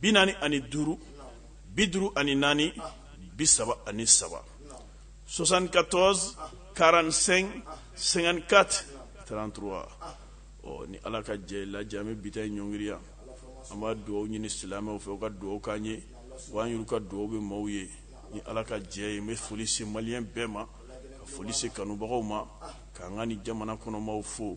bi naani ani duuru bi duuru ani naani bi saba ani saba soixante quatorze quarante cinq cinquante quatre trente trois ɔ ni ala ka jɛ lajɛ an bɛ bi ta in ɲɔngiri yan an b'a dugawu ɲini silamɛw fɛ u ka dugawu k'an ye wa an y'olu ka dugawu bɛ maaw ye ni ala ka jɛ ye n bɛ foli se maliyɛn bɛɛ ma ka foli se kanubagaw ma k'an ka ni jamana kɔnɔmaaw fo